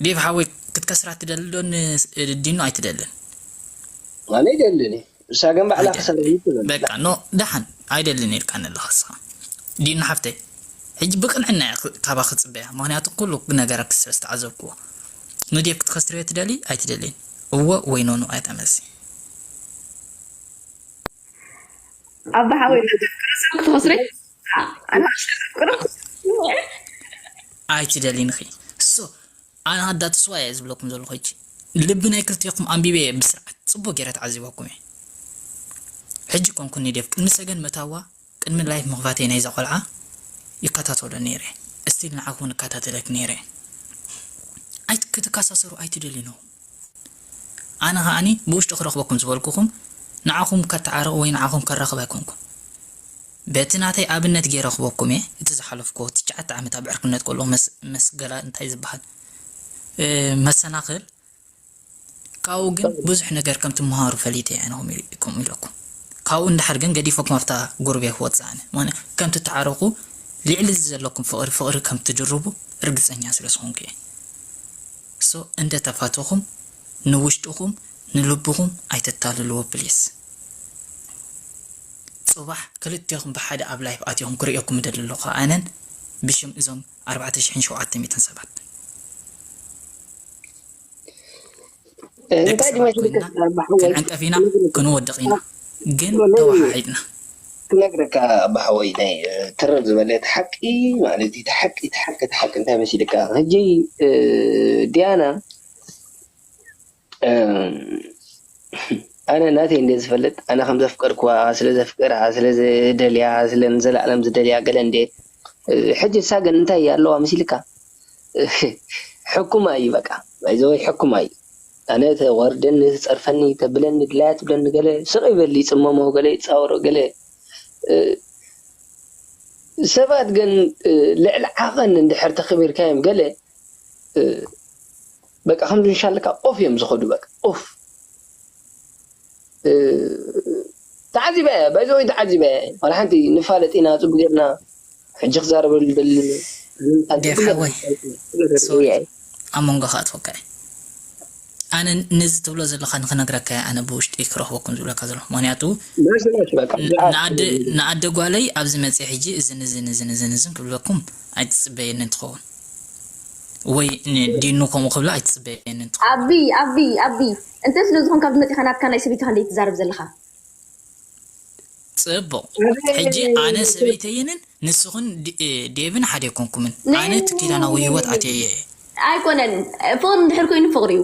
ዴቭ ሓወይ ክትከስራ ትደሊ ዶ ን ዲኖ ኣይትደልን ኣነ ይደልን እዩ ንሳ ግን ባዕላ ክሰርሕ ኣይደልን እዩ ትብል በቃ ኖ ደሓን ኣይደልን ኢልካኒ ኣለኻ ንስኻ ዲኖ ሓፍተይ ሕጂ ብቅንዕና እየ ክ- ካባኺ ዝጽበያ ምክንያቱ ኩሉ ነገራትኪ ስለ ዝተዓዘብክዎ ንዴቭ ክትከስርዮ ትደልይ ኣይትደልይን እወ ወይ ኖኖ ኣያ መልሲ። ኣባ ሓወይ ንዴቭ ክርሰው ክትከስርይ ኣይትደልይን ኢኺ ሶ ኣነ ኣዳ ተስዋይ እየ ዝብለኩም ዘለኹ ሕጂ ልቢ ናይ ክልቴኹም ኣንቢበ እየ ብስርዓት ጽቡቅ ጌረ ተዓዚበኩም እየ ሕጂ ኮንኩኒ ዴቭ ቅድሚ ሰገን ምእታዋ ቅድሚ ላይፍ ምኽፋተይ ናይዛ ቆልዓ ይከታተሎ ነይረ እስቲል ንዓኺ ውን እከታተለኪ ነይረ ኣይ ክትከሳሰሩ ኣይትደልዩ ነው ኣነ ከኣኒ ብውሽጢ ክረኽበኩም ዝበልኩኹም ንዓኹም ከታዓርቕ ወይ ንዓኹም ከራኽብ ኣይኮንኩን በቲ ናተይ ኣብነት ገይረ ክበኩም እየ እቲ ዝሓለፍኩዎ ትሽዓተ ዓመት ኣብ ዕርክነት ከለኹ መስገላ እንታይ ዝበሃል መሰናኽል ካብኡ ግን ብዙሕ ነገር ከም ትመሃሩ ፈሊጠ እየ ኣነ ከምኡ ኢለኩም ካብኡ እንድሓር ግን ገዲፈኩም ኣብታ ጎረቤት ክወጽእ ኣነ ምክንያቱ ከም ትተዓረቁ ልዕሊ እዚ ዘለኩም ፍቅሪ ፍቅሪ ከም ትድርቡ ርግጸኛ ስለ ዝኮንኩ እየ so እንተ ተፋተኩም ንውሽጥኩም ንልብኩም ኣይተታልልዎ please ጽባሕ ክልቴኩም ብሓደ ኣብ ላይፍ ኣትኩም ክርእየኩም እደሊ ኣለኩ ኣነን ብሽም እዞም ኣርባዕተ ሽሕን ሸውዓተ ሚእትን ሰባት ደቂ ሰባት ኮይንና ክንዕንቀፍ ኢና ክንወድቕ ኢና ግን ተወሓሒጥና። ክነግረካ ኣባ ሓወይ ናይ ትርር ዝበለ እቲ ሓቂ ማለት እዩ እቲ ሓቂ እቲ ሓቂ እቲ ሓቂ እንታይ መሲልካ ሕጂ ድያና ኣነ ናተይ እንድየ ዝፈልጥ ኣነ ከም ዘፍቀርክዋ ስለ ዘፍቅራ ስለ ዝደልያ ስለ ንዘላኣለም ዝደልያ ገለ እንድየ ሕጂ ንሳ ግን እንታይ ኣለዋ መሲልካ ሕኩማ እዩ በቃ ባይዘወይ ሕኩማ እዩ ኣነ ተዋርደኒ ትጸርፈኒ ተብለኒ ድላያ ትብለኒ ገለ ስቕ ይበል ይጽመሞ ገለ ይጻወሮ ገለ ሰባት ግን ልዕሊ ዓቐን እንድሕር ተኸቢርካዮም ገለ በቃ ከምዚ ንሻለካ ኦፍ እዮም ዝከዱ በቃ ኡፍ ተዓዚበያ እያ ባይ ዘ ወይ ተዓዚበያ እያ ዋላ ሓንቲ ንፋለጥ ኢና ጽቡቅ ጌርና ሕጂ ክዛረበሉ ዝደሊ ዴቭ ሓወይ ሶሪ ኣብ መንጎ ክኣትወካ እየ ኣነ ነዚ ትብሎ ዘለካ ንክነግረካ እየ ኣነ ብውሽጢ ክረክበኩም ዝብለካ ዘለኩ ምክንያቱ ንኣደ ጓለይ ኣብዚ መጽየ ሕጂ እዝን እዝን እዝን እዝን እዝን ክብለኩም ኣይትጽበየንን ትከውን ወይ ን ዲኑ ከምኡ ክብላ ኣይትጽበየንን ትኾን። ኣቢ ኣቢ ኣቢ እንተ ስለ ዝኮንካ ኣብዚ መጺካ ናትካ ናይ ሰበይትካ ክንደይ ትዛረብ ዘለካ። ጽቡቅ ሕጂ ኣነ ሰበይተይንን ንስክን ዴቭን ሓደ ኣይኮንኩምን ኣነ እቲ ኪዳናዊ ሂወት ኣትየዮ እየ። ኣይኮነን ፍቅሪ እንድሕር ኮይኑ ፍቅሪ እዩ።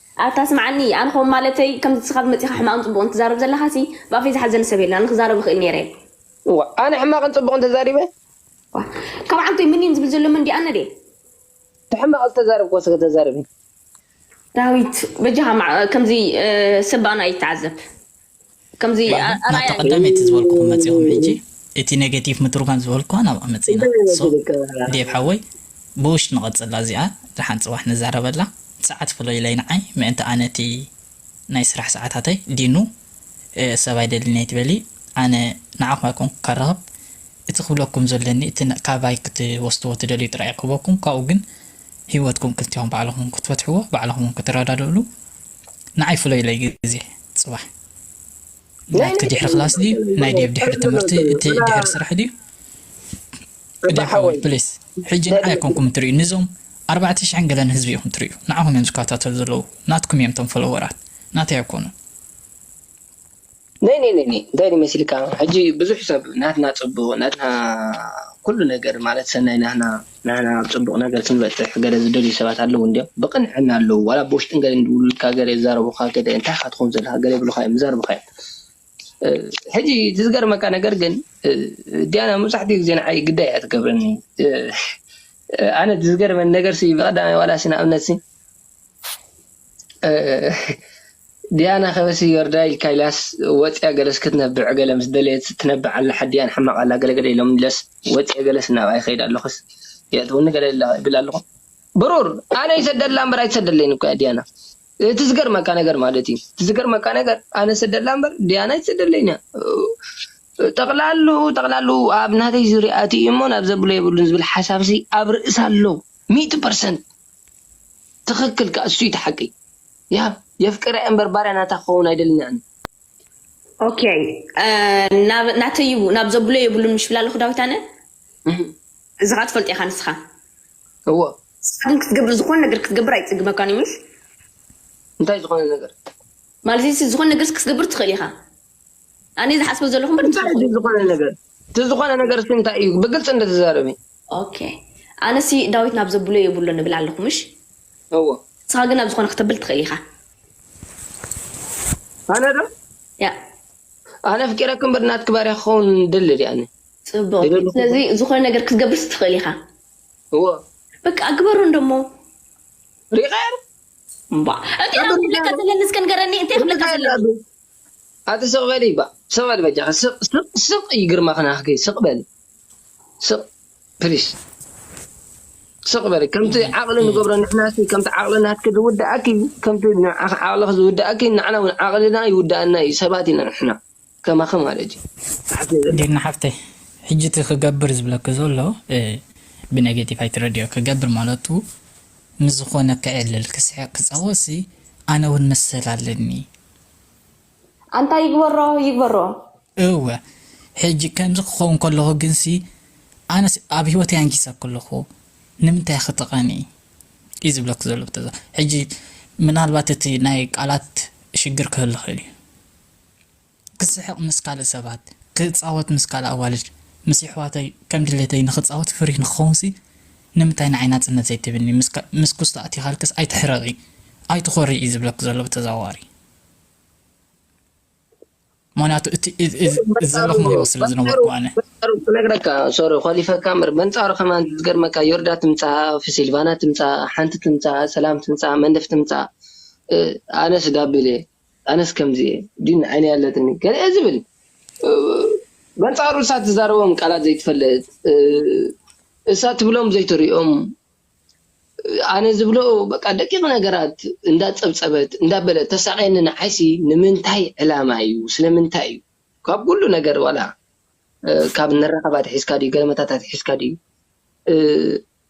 ኣታ ስምዓኒ ኣንኾም ማለተይ ከምዚ ንስኻ ብመጺኻ ሕማቕን ጽቡቕን ትዛረብ ዘለኻሲ ብኣፈይ ዝሓዘኒ ሰብ የለን ኣነ ክዛረብ ይኽእል ኔረ። እዋ ኣነ ሕማቕን ጽቡቕን ተዛሪበ? እዋ ካብ ዓንኮይ ምኒን ዝብል ዘሎ መን ድዩ ኣነ ድየ? እቲ ሕማቕ ዝተዛረብክዎስ እስከ ተዛረቢ። ዳዊት በጃኻ ከምዚ ሰብ ብኣና ኣይትዓዘብ። ከምዚ ዋላ ናብታ ኣርኣያ ቀዳመይቲ ዝበልኩኹም መጺኹም ሕጂ እቲ ኔጌቲቭ ምትርጓም ዝበልኩዋ ናብኣ መጺና ሶ ዴቭ ሓወይ ብውሽጢ ንቐጽላ እዚኣ ደሓን ጽባሕ ንዛረበላ ሰዓት ፍለዩለይ ንዓይ ምእንቲ ኣነ እቲ ናይ ስራሕ ሰዓታተይ ዲኑ ሰብ ኣይደልን እየ ትበሊ ኣነ ንዓኹም ኣይኮንኩ ከራኽብ እቲ ክብለኩም ዘለኒ እቲ ካባይ ክትወስድዎ ትደልዩ ጥራይ እየ ክህበኩም ካብኡ ግን ሂወትኩም ክልቲኹም ባዕልኹም ክትፈትሕዎ ባዕልኹም ክትረዳድእሉ ንዓይ ፍለዩለይ ግዜ ጽባሕ ናትኪ ድሕሪ ክላስ ድዩ ናይ ዴቭ ድሕሪ ትምህርቲ እቲ ድሕሪ ስራሕ ድዩ ዴቭ ሓወይ ፕሊስ ሕጂ ንዓይ ኣይኮንኩም ትርእዩ ንዞም ኣርባዕተ ሽሕን ገለን ህዝቢ ኢኹም ትርእዩ ንዓኹም እዮም ዝከታተሉ ዘለዉ ናትኩም እዮም እቶም ፈለወራት ናተይ ኣይኮኑን ናይ ናይ ናይ እንታይ ድዩ መሲልካ ሕጂ ብዙሕ ሰብ ናትና ጽቡቕ ናትና ኩሉ ነገር ማለት ሰናይ ናህና ንሕና ኣብ ጽቡቕ ነገር ክንበጽሕ ገለ ዝደልዩ ሰባት ኣለዉ እንድዮም ብቕንዕና ኣለዉ ዋላ ብውሽጥን ገለ ይድውሉልካ ገለ ይዛረቡኻ ገለ እንታይ ኢኻ ትኾን ዘለኻ ገለ ይብሉኻ እዮም ይዛረቡኻ እዮም ሕጂ እቲ ዝገርመካ ነገር ግን ዲያና መብዛሕትኡ ግዜ ንዓይ ግዳይ እያ ትገብረኒ ኣነ ዝገርመኒ ነገርሲ ብቐዳማይ ዋላሲ ንኣብነትሲ ዲያና ከበሲ ዮርዳ ኢልካ ኢልያስ ወጽያ ገለስ ክትነብዕ ገለ ምስ ደለየት ትነብዕ ኣላ ሓዲኣን ሕማቅ ኣላ ገለ ገለ ኢሎም ኢልያስ ወጽየ ገለስ እናበኣ ይከይድ ኣሎክስ የእትውኒ ገለ ይብል ኣሎኩ ብሩር ኣነ ይሰደላ እምበር ኣይትሰደለይን እኮ እያ ዲያና እቲ ዝገርመካ ነገር ማለት እዩ እቲ ዝገርመካ ነገር ኣነ ሰደላ እምበር ዲያና ኣይትሰደለይን እያ ጠቅላሉ ጠቅላሉ ኣብ ናተይ ዙርያ ኣትዩ እሞ ናብ ዘብሎ የብሉን ዝብል ሓሳብሲ ኣብ ርእሳ ኣሎ ሚእቲ ፐርሰንት ትክክል ካኣ እሱ እዩ እቲ ሓቂ። ያብ የፍቅራ እየ እምበር ባርያ ናታ ክከውን ኣይደልን እየ ኣነ። ኦከይ ናብ ናተይ እዩ ናብ ዘብሎ የብሉን ምሽ ብላ ኣለኩ ዳዊት ኣነ እዚ ካኣ ትፈልጦ ኢካ ንስካ። እወ ንስካ ግን ክትገብር ዝኮነ ነገር ክትገብር ኣይጽግመካን እዩ ምሽ እንታይ ዝኮነ ነገር። ማለት እዚ ዝኮነ ነገርስ ክትገብር ትክእል ኢካ። ኣነ ዝሓስቦ ዘለኹ እምበር እንታይ እዩ ዝኾነ ነገር እቲ ዝኾነ ነገር ሲ እንታይ እዩ ብግልፂ እንደተዛረቢ ኦኬ ኣነ ሲ ዳዊት ናብ ዘብሎ የብሎ ንብል ኣለኹ ምሽ እዎ ንስኻ ግን ናብ ዝኾነ ክተብል ትኽእል ኢኻ ኣነ ዶ ያ ኣነ ፍቂረክ እምበር ናትክ ባርያ ክኸውን ደሊ ድያ ኣነ ፅቡቅ ይደልኹ። ስለዚ ዝኾነ ነገር ክትገብርስ ትኽእል ኢኻ እዎ በቃ ግበሮ እንደሞ ሪቀር እምባ እንታይ ኣብ ክብለካ ዘለኒ እስከ ንገረኒ እንታይ ክብለካ እንታይ ኣለኒ ኣለዱ ኣቲ ስቅ በሊ ባእ ስቅ በሊ በጃኺ ስቅ ስቅ ስቅ እዩ ግርማኺ ናህኪ ስቅ በሊ ስቅ ፕሊስ ስቅ በሊ ከምቲ ዓቅሊ ንገብሮ ንሕናሲ ከምቲ ዓቅሊ ናትኪ ዝውድኣኪ ከምቲ ንዓኺ ዓቅልኺ ዝውድኣኪ ንዓና ውን ዓቅልና ይውድኣና እዩ ሰባት ኢና ንሕና ከማኺ ማለት እዩ ዓስለ ዘለ ዲና ሓፍተይ ሕጂ እቲ ክገብር ዝብለኪ ዘሎ ብነጌቲቭ ኣይትረድዮ ክገብር ማለቱ ምስ ዝኾነ ከዕልል ክስሕቅ ክጻወትሲ ኣነ ውን መሰል ኣለኒ ኣንታ ይግበሮ ይግበሮ። እወ ሕጂ ከምዚ ክከውን ከለኩ ግንሲ ኣነስ ኣብ ሂወተይ ኣንጊሰ ከለኩ ንምንታይ ክተቀኒ ኢዩ ዝብለኪ ዘሎ ብተዘ ሕጂ ምናልባት እቲ ናይ ቃላት ሽግር ክህሉ ይክእል ኢዩ ክስሕቅ ምስ ካልእ ሰባት ክጻወት ምስ ካልእ ኣዋልድ ምስ የሕዋተይ ከም ድሌተይ ንክጻወት ፍሪህ ንክከውንሲ ንምታይ ንዓይ ናጽነት ዘይትብኒ ምስ ኩስቶ ኣቲኻልክስ ኣይትሕረቂ ኣይትኾርይ እዩ ዝብለኪ ዘሎ ብተዘዋዋሪ ምክንያቱ እቲ እዚ ዘለኹሞ ሂወት ስለ ዝነበርኩ ኣነ በንጻሩ ክነግረካ ሶሪ ኮሊፈካ እምበር በንጻሩ ከማን ዝገርመካ ዮርዳ ትምጻእ ሲልቫና ትምጻእ ሓንቲ ትምጻእ ሰላም ትምጻእ መንደፍ ትምጻእ ኣነስ ጋቢለ ኣነስ ከምዚ እየ ድዩ ንዓይኒ ኣለትኒ ገለ ዝብል በንጻሩ እሳ ትዛረቦም ቃላት ዘይትፈልጥ እሳ ትብሎም ዘይትሪኦም ኣነ ዝብሎ በቃ ደቂቅ ነገራት እንዳ ጸብጸበት እንዳ በለት ተሳቅየኒ ንዓይሲ ንምንታይ ዕላማ እዩ ስለምንታይ እዩ ካብ ኩሉ ነገር ዋላ ካብ ንራኸባ ኣትሒዝካ ድዩ ገለ መታታት ኣትሒዝካ ድዩ።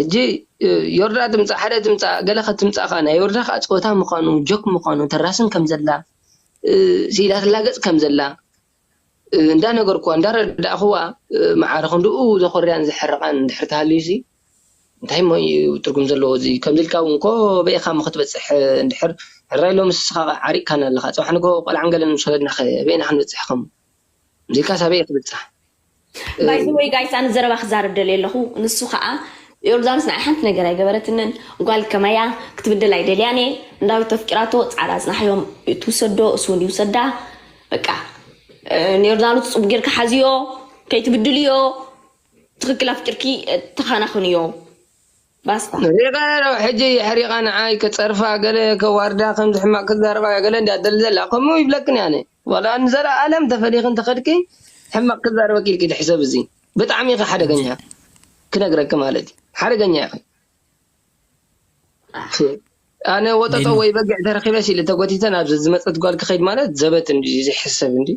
ሕጂ ዮርዳ ትምጻእ ሓደ ትምጻእ ገለ ክትምጻእ ከኣ ናይ ዮርዳ ከኣ ጸወታ ምዃኑ ጆክ ምዃኑ ተራስን ከም ዘላ ስኢላ ትላገጽ ከም ዘላ እንዳ ነገርኩዋ እንዳ ኣረዳእኩዋ መዓረ ክንድኡ ዘኹርያን ዘሕርቓን እንድሕር ተሃልዩሲ እንታይ እሞ እዩ ትርጉም ዘለዎ እዚ ከምዚ ኢልካ እውን እኮ በይኻ እሞ ክትበጽሕ እንድሕር ሕራይ ሎሚ ስስኻ ዓሪቕካና ኣለኻ ጽባሕ ንግሆ ቆልዓን ገለን ምስ ወለድናኸ በይና ክንበጽሕ ከም እዚ ኢልካስ ኣበይ ክትበጽሕ ባይ ዘ ወይ ጋይስ ኣነ ዘረባ ክዛረብ ደልየ ኣለኹ ንሱ ከዓ ዮርዳኖስ ንዓይ ሓንቲ ነገር ኣይገበረትንን ጓል ከማያ ክትብድል ኣይደልያን እየ ንዳዊት ተፍቂራቶ ፃዕዳ ኣፅናሕዮም ትውሰዶ እሱ እውን ይውሰዳ በቃ እ፣ ንዮርዳኖስ ፅቡቅ ጌርካ ሓዝዮ ከይትብድልዮ ትክክል ኣፍቂርኪ ተኻናኽንዮ ባስታ። ሪቀ ኣለኹ ሕጂ የሕሪቃ ንዓይ ከጸርፋ ገለ ከዋርዳ ከምዚ ሕማቅ ክዛረባ ገለ እንድያ ትደሊ ዘላ ከምኡ ይብለክን ኣነ ዋላ ንዘላኣለም ተፈሊኪ እንተከድኪ ሕማቅ ክዛረበኪ ኢልኪ ድሕሰቢ እዚ ብጣዕሚ ኢኪ ሓደገኛ ክነግረኪ ማለት እዩ ሓደገኛ ኢኪ ኣነ ወጠጦ ወይ በጊዕ ተረኪበስ ኢለ ተጎቲተ ናብዚ ዝመጸት ጓል ክከይድ ማለት ዘበት እንድዩ ዘይሕሰብ እንድዩ።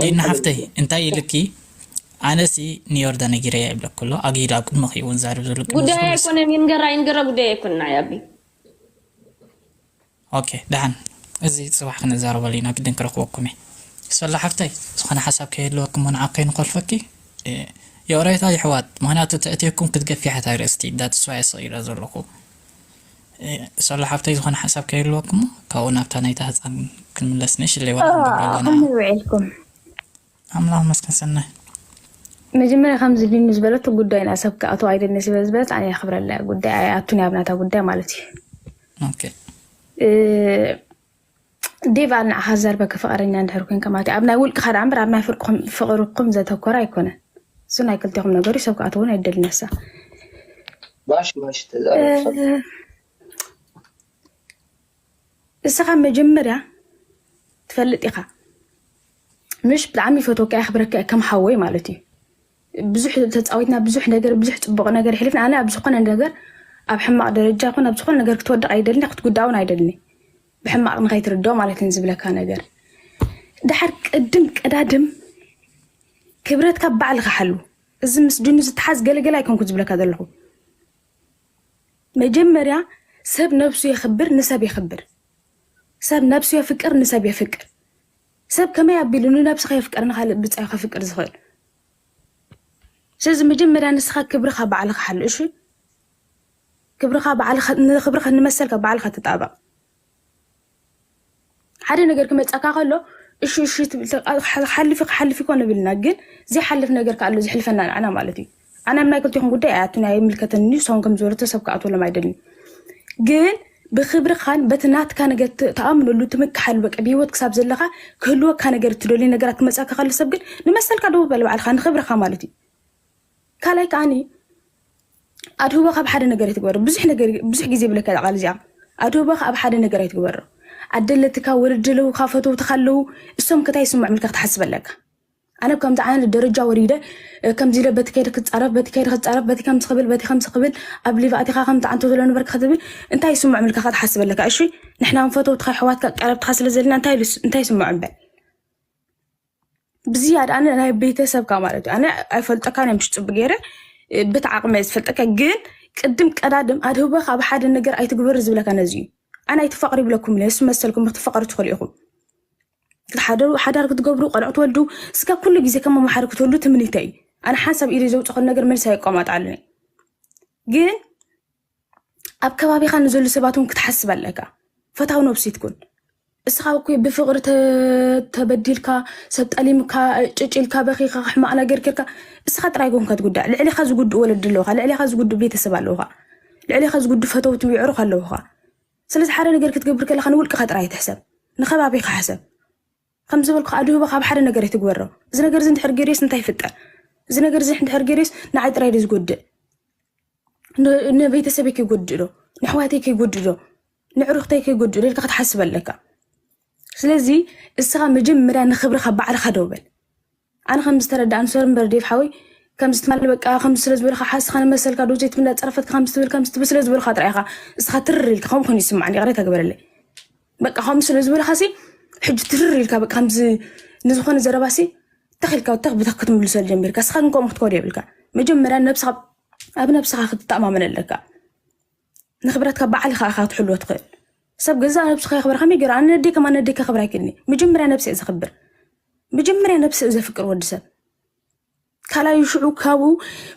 ዲና ሓፍተይ እንታይ ኢልኪ ኣነሲ ንዮርዳ ነጊረያ ይብለኪ ኣሎ ኣግሂዱ ኣብ ቅድመኺ እዩ እውን ዛርብ ዘሎ ቅድሚ ጉዳይ ዝኹሉ ኣይኮነን ይንገራ ይንገራ ጉዳይ ኣይኮነን ናይ ኣቢ ኦኬ ደሓን እዚ ጽባሕ ክንዛረበሉ ኢና ግድን ክረኽበኩም እየ ሰላ ሓፍተይ ዝኾነ ሓሳብ ከይህልወኩም እሞ ንዓ ከይንኾልፈኪ እ፣ የቕሬታ ይሕዋት ምክንያቱ ተእትየኩም ክትገፊ ሓታይ ርእስቲ ዳትስዋይ ስቕ ኢለ ዘለኹ ሶሎ ሓፍተይ ዝኾነ ሓሳብ ከይህልወኩም ካብኡ ናብታ ናይታ ህጻን ክንምለስ ንእሽ ለይዋ ክንገብር ኣለና ከመይ ውዒልኩም ኣምላኽ መስከን ሰናይ መጀመርያ ከምዚ ሊኑ ዝበለቶ ጉዳይና ሰብ ክኣትው ኣይደልኒ ስለ ዝበለት ኣነ የኽብረላ ጉዳይ ኣይኣቱን ኣብናታ ጉዳይ ማለት እዩ ዴቫ ንዓኻ ዝዘርበከ ፍቐረኛ እንድሕር ኮንካ ማለት እዩ። ኣብ ናይ ውልቅኻ ደኣ እምበር ኣብ ናይ ፍርቅኹም- ፍቕርኩም ዘተኮረ ኣይኮነን። እሱ ናይ ክልቴኹም ነገር እዩ፣ ሰብ ክኣትዎ እውን ኣይደልን ነሳ ማሽ ማሽ ተዛረብ ሰብ ንስኻ መጀመርያ ትፈልጥ ኢኻ ምሽ ብጣዕሚ ይፈትወካ የኽብረካ እየ ከም ሓወይ ማለት እዩ ብዙሕ ተፃዊትና ብዙሕ ነገር ብዙሕ ፅቡቅ ነገር ይሕልፍና ኣነ ኣብ ዝኾነ ነገር ኣብ ሕማቅ ደረጃ ይኹን ኣብ ዝኾነ ነገር ክትወድቅ ኣይደልን ክትጉዳእ እውን ኣይደልን ብሕማቅ ንከይትርድኦ ማለት እዩ ዝብለካ ነገር ድሓር ቅድም ቀዳድም ክብረትካ ባዕልካ ሓሉ እዚ ምስ ድኑ ዝተሓዝ ገለገለ ኣይኮንኩ ዝብለካ ዘለኹ መጀመርያ ሰብ ነብሱ የኽብር ንሰብ የኽብር ሰብ ነብሱ የፍቅር ንሰብ የፍቅር ሰብ ከመይ ኣቢሉ ንነብሱ ከየፍቀረ ንኻልእ ብጻዩ ከፍቅር ዝኽእል? ስለዚ መጀመርያ ንስኻ ክብርኻ ባዕልኻ ሓሉ እሺ። ክብርኻ ባዕልኻ ንክብርኻ ንመሰልካ ባዕልኻ ተጣበቕ። ሓደ ነገር ክመጻካ ከሎ እሺ እሺ ትብል ሓልፊ ክሓልፍ ይኮን ንብልና ግን ዘይሓልፍ ነገር ከኣ ኣሎ ዝሕልፈና ንዓና ማለት እዩ። ኣነ ኣብ ናይ ክልቲኹም ጉዳይ ኣይኣቱን ኣይምልከተንን እዩ ንሶም ከም ዝበለቶ ሰብ ክኣትወሎም ኣይደልን ግን ብክብርኻን በቲ ናትካ ነገር ት- ትኣምነሉ ትምክሓሉ በቃ ብሂወት ክሳብ ዘለኻ ክህልወካ ነገር እትደልዩ ነገራት ክመፅካ ካሉ ሰብ ግን ንመሰልካ ደው በል ባዕልኻ ንክብርኻ ማለት እዩ ካልኣይ ከዓኒ ኣድህቦ ካብ ሓደ ነገር ኣይትግበሮ ብዙሕ ነገር ብዙሕ ግዜ ብለካ እዛ ቃል እዚኣ ኣድህቦ ካብ ሓደ ነገር ኣይትግበሮ ኣደለትካ ወለድለውካ ፈተውትካ ኣለው እሶም ከታይ ይስምዖም ኢልካ ክትሓስብ ኣለካ ኣነ ከምዚ ዓይነት ደረጃ ወሪደ ከምዚ ኢለ በቲ ከይደ ክፃረፍ በቲ ከይደ ክፃረፍ በቲ ከምዚ ክብል በቲ ከምዚ ክብል ኣብ ሊቭ ኣቲኻ ከምቲ ዓንቶ ዘሎ ንበርካ ክትብል እንታይ ይስምዖም ኢልካ ከ ትሓስብ ኣለካ እሺ ንሕና ውን ፈተውትኻ ኣሕዋትካ ቀረብትኻ ስለ ዘለና እንታይ ኢሉ- እንታይ ይስምዖም በል ብዝያዳ ኣነ ናይ ቤተሰብካ ማለት እዩ ኣነ ኣይፈልጠካን እዮም ፅቡቅ ገይረ እ፣ በቲ ዓቅመ ዝፈልጠካ ግን ቅድም ቀዳድም ኣድህቦካ ኣብ ሓደ ነገር ኣይትግበር ዝብለካ ነዚ እዩ ኣነ ኣይትፋቅሩ ይብለኩም እለ ንሱ መሰልኩም ክትፋቀሩ ትኽእሉ ኢኹም ሓዳር ክትገብሩ ቆልዑ ትወልዱ እስከ ኩሉ ግዜ ከም መማሓሪ ክትህሉ ትምኒተይ እዩ ኣነ ሓንሳብ ኢደ ዘውፅኸን ነገር መልሲ ኣየቋማጣሉን እዩ ግን ኣብ ከባቢኻ ንዘሉ ሰባት እውን ክትሓስብ ኣለካ ፈታው ነብሲት ኩን እስኻ እኮ ብፍቕሪ ተበዲልካ ሰብ ጠሊምካ ጭጭልካ በኺኻ ሕማቕ ነገር ጌርካ እስኻ ጥራይ ጎንካ ትጉዳእ ልዕሊኻ ዝጉድእ ወለዲ ኣለውካ ልዕሊኻ ዝጉድእ ቤተሰብ ኣለውካ ልዕሊኻ ዝጉድእ ፈተውቲ ይዕሩኽ ኣለውካ ስለዚ ሓደ ነገር ክትገብር ከለኻ ንውልቅኻ ጥራይ ኣይትሕሰብ፣ ንከባቢኻ ሕሰብ። ከም ዝበልኩ ከዓ ድህቦ ካብ ሓደ ነገር ኣይትግበሮ። እዚ ነገር እዚ እንድሕር ገይረስ እንታይ ይፍጠር? እዚ ነገር እዚ እንድሕር ገይረስ ንዓይ ጥራይ ዶ ዝጎድእ? ንቤተሰበይ ከይጎድእ ዶ? ንኣሕዋተይ ከይጎድእ ዶ? ንዕሩኽተይ ከይጎድእ ዶ ኢልካ ክትሓስብ ኣለካ። ስለዚ እስኻ መጀመርያ ንክብርኻ ባዕልኻ ደው በል። ኣነ ከም ዝተረዳእኒ ሶሪ እምበር ዴቭ ሓወይ ከምዚ ትማል በቃ ከምዚ ስለ ዝበልካ ሓስኻ ንመሰልካ ዶ ዘይትብል እንዳጸረፈትካ ከምዚ ትብል ከምዚ ትብል ስለ ዝበልካ ጥራይ ኢኻ እስኻ ትርር ኢልካ ከምኡ ኮይኑ ይስምዓኒ ይቕሬታ ግበረለይ በቃ ከምኡ ስለ ዝበልካሲ ሕጂ ትርር ኢልካ በቃ ከምዚ ንዝኾነ ዘረባሲ ተኽ ኢልካ ተኽ ብተኽ ክትምልሰሉ ጀሚርካ እስኻ ግን ከምኡ ክትኮዶ የብልካ መጀመርያ ነብስኻ ኣብ ነብስኻ ክትተኣማመን ኣለካ ንክብረትካ ባዕልኻ ኢኻ ክትሕልዎ ትኽእል። ሰብ ገዛ ነብስኻ የኽብር ከመይ ገይሩ ኣነ ነደይ ከም ኣነ ነደይ ከኽብር ኣይክእልኒ መጀመርያ ነብሲ እየ ዘኽብር መጀመርያ ነብሲ እዩ ዘፍቅር ወዲ ሰብ ካልኣዩ ሽዑ ካብኡ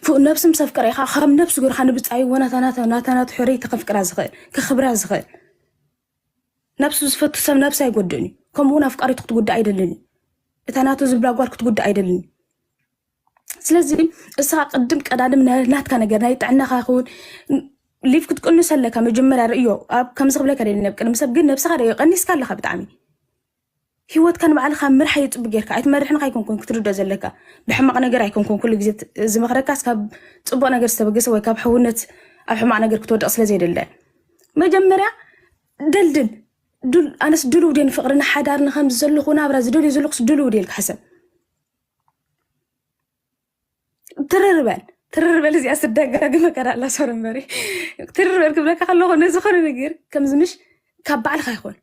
ፍ- ነብሲ ምስ ኣፍቀረ ኢኻ ካብ ነብሲ ገርካ ንብፃይዎ ናታናቱ ሕርይቲ ከፍቅራ ዝኽእል ከኽብራ ዝኽእል ነብሱ ዝፈቱ ሰብ ነብሲ ኣይጎድእን እዩ ከምኡ እውን ኣፍቃሪቱ ክትጉዳእ ኣይደልን እዩ እታ ናቱ ዝብላ ጓል ክትጉዳእ ኣይደልን እዩ ስለዚ እስኻ ቅድም ቀዳድም ናትካ ነገር ናይ ጥዕናኻ ይኸውን ሊፍ ክትቅንስ ኣለካ መጀመርያ ርእዮ ኣብ ከምዚ ክብለካ ደለ ኣብ ቅድሚ ሰብ ግን ነብስኻ ርእዮ ቀኒስካ ኣለካ ብጣዕሚ ሂወትካ ንባዕልካ ምርሓ እዩ ጽቡቅ ጌርካ ኣይትመርሕን ኣይኮንኩን ክትርዶ ዘለካ ብሕማቅ ነገር ኣይኮንኩን ኩሉ ግዜ ዝመክረካስ ካብ ጽቡቅ ነገር ዝተበገሰ ወይ ካብ ሕውነት ኣብ ሕማቅ ነገር ክትወድቅ ስለ ዘይደለ መጀመርያ ደልድል ድል ኣነስ ድልው ድየ ንፍቅሪ ንሓዳር ንከምዚ ዘለኹ ናብራ ዝደልዩ ዘለኹስ ድልው ድየ ኢልካ ሕሰብ ትርር በል ትርር በል እዚኣ ስደጋግመ ከዳላ ሰር እምበሪ ትርር በል ክብለካ ከለኹ ነዚ ኾነ ነገር ከምዚ ምሽ ካብ ባዕልካ ይኾን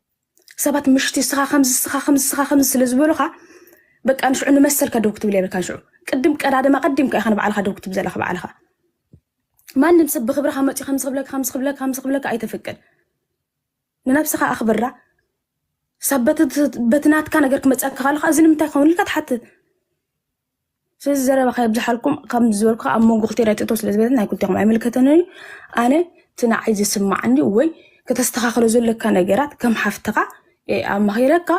ሰባት ምሽቲ ስኻ ከምዚ ስኻ ከምዚ ስኻ ከምዚ ስለ ዝበሉኻ በቃ ንሽዑ ንመሰልካ ደው ክትብል የብልካ ንሽዑ ቅድም ቀዳድማ ቀዲምካ ኢኻ ንባዕልካ ደው ክትብል ዘለካ ባዕልካ ማንም ሰብ ብክብርካ መፅኡ ከምዚ ክብለካ ከምዚ ክብለካ ከምዚ ክብለካ ኣይተፍቅድ ንነብስኻ ኣኽብራ ሳብ በቲ ናትካ ነገር ክመፀካ ከለካ እዚ ንምንታይ ክኸውን ኢልካ ትሓትት ስለዚ ዘረባ ከየብዝሓልኩም ከም ዝበልኩ ኣብ መንጎ ክልቲኤን ኣይትእቶ ስለ ዝበለት ናይ ክልቲኹም ኣይምልከተንን እዩ ኣነ እቲ ንዓይ ዝስማዓኒ ወይ ከተስተኻኽሎ ዘለካ ነገራት ከም ሓፍትኻ እየ ኣማኺረካ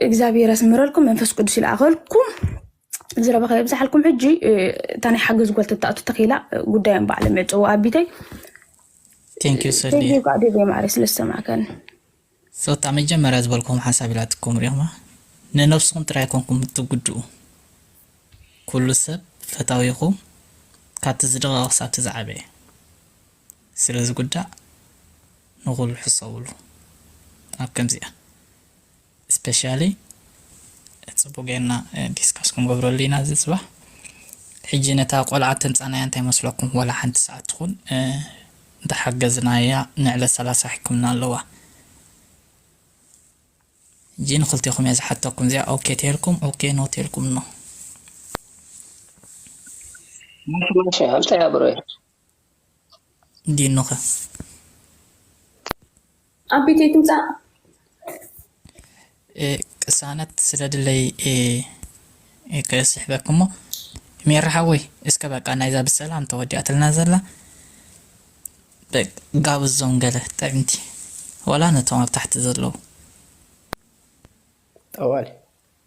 እግዚኣብሔር ያስምረልኩም መንፈስ ቅዱስ ይልኣኸልኩም ዝረባ ከየብዝሓልኩም ሕጂ እ፣ እታ ናይ ሓገዝ ጓል ተትኣቱ ተኺላ ጉዳዮም ባዕሎም የዕፅዎ ኣቢተይ ቴንኪዩ ሰልየ ቴንኪዩ ቃ ዴቭ ማዕረ ስለ ዝተሰማዕከኒ ጸታ መጀመርያ ዝበልክዎም ሓሳብ ኢላትኩም ሪኢኽማ ንነብስኹም ጥራይ ኣይኮንኩም እትጉድኡ ኩሉ ሰብ ፈታዊኹም ካብቲ ዝደቐቐ ክሳብቲ ዝዓበየ ስለ ዝጉዳእ ንኹሉ ሕሰብሉ ኣብ ከምዚኣ ስፐሻሊ ጽቡቕ ጌርና ዲስካስ ክንገብረሉ ኢና እዚ ጽባሕ ሕጂ ነታ ቆልዓ ተምጻናያ እንታይ መስለኩም ወላ ሓንቲ ሰዓት ትኹን እንተሓገዝናያ ንዕለት ሰላሳ ሕክምና ኣለዋ ሕጂ ንክልቴኩም እየ ዝሓተኩም እዚኣ ኦኬ ተልኩም ኦኬ ኖ ተልኩም ኖ። ማሽ ማሽ ኣምፀያ ብሮየ። ዲኑ ከ። ኣብ ቤተይ ትምጻእ። ቅሳነት ስለ ድለይ እየ ክስሕበኪ እሞ ሜሪ ሓወይ እስከ በቃ ናይዛ ብሰላም ተወዲኣትልና ዘላ ጋብዞም ገለ ጥዕምቲ ዋላ ነቶም ኣብ ታሕቲ ዘለዉ። ጠዋል።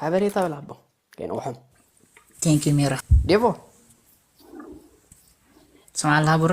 ሓበሬታ ብል ኣቦ ከይንቑሖም Thank you ሚራ ዴቮ ትሰምዓለኻ ቡሬ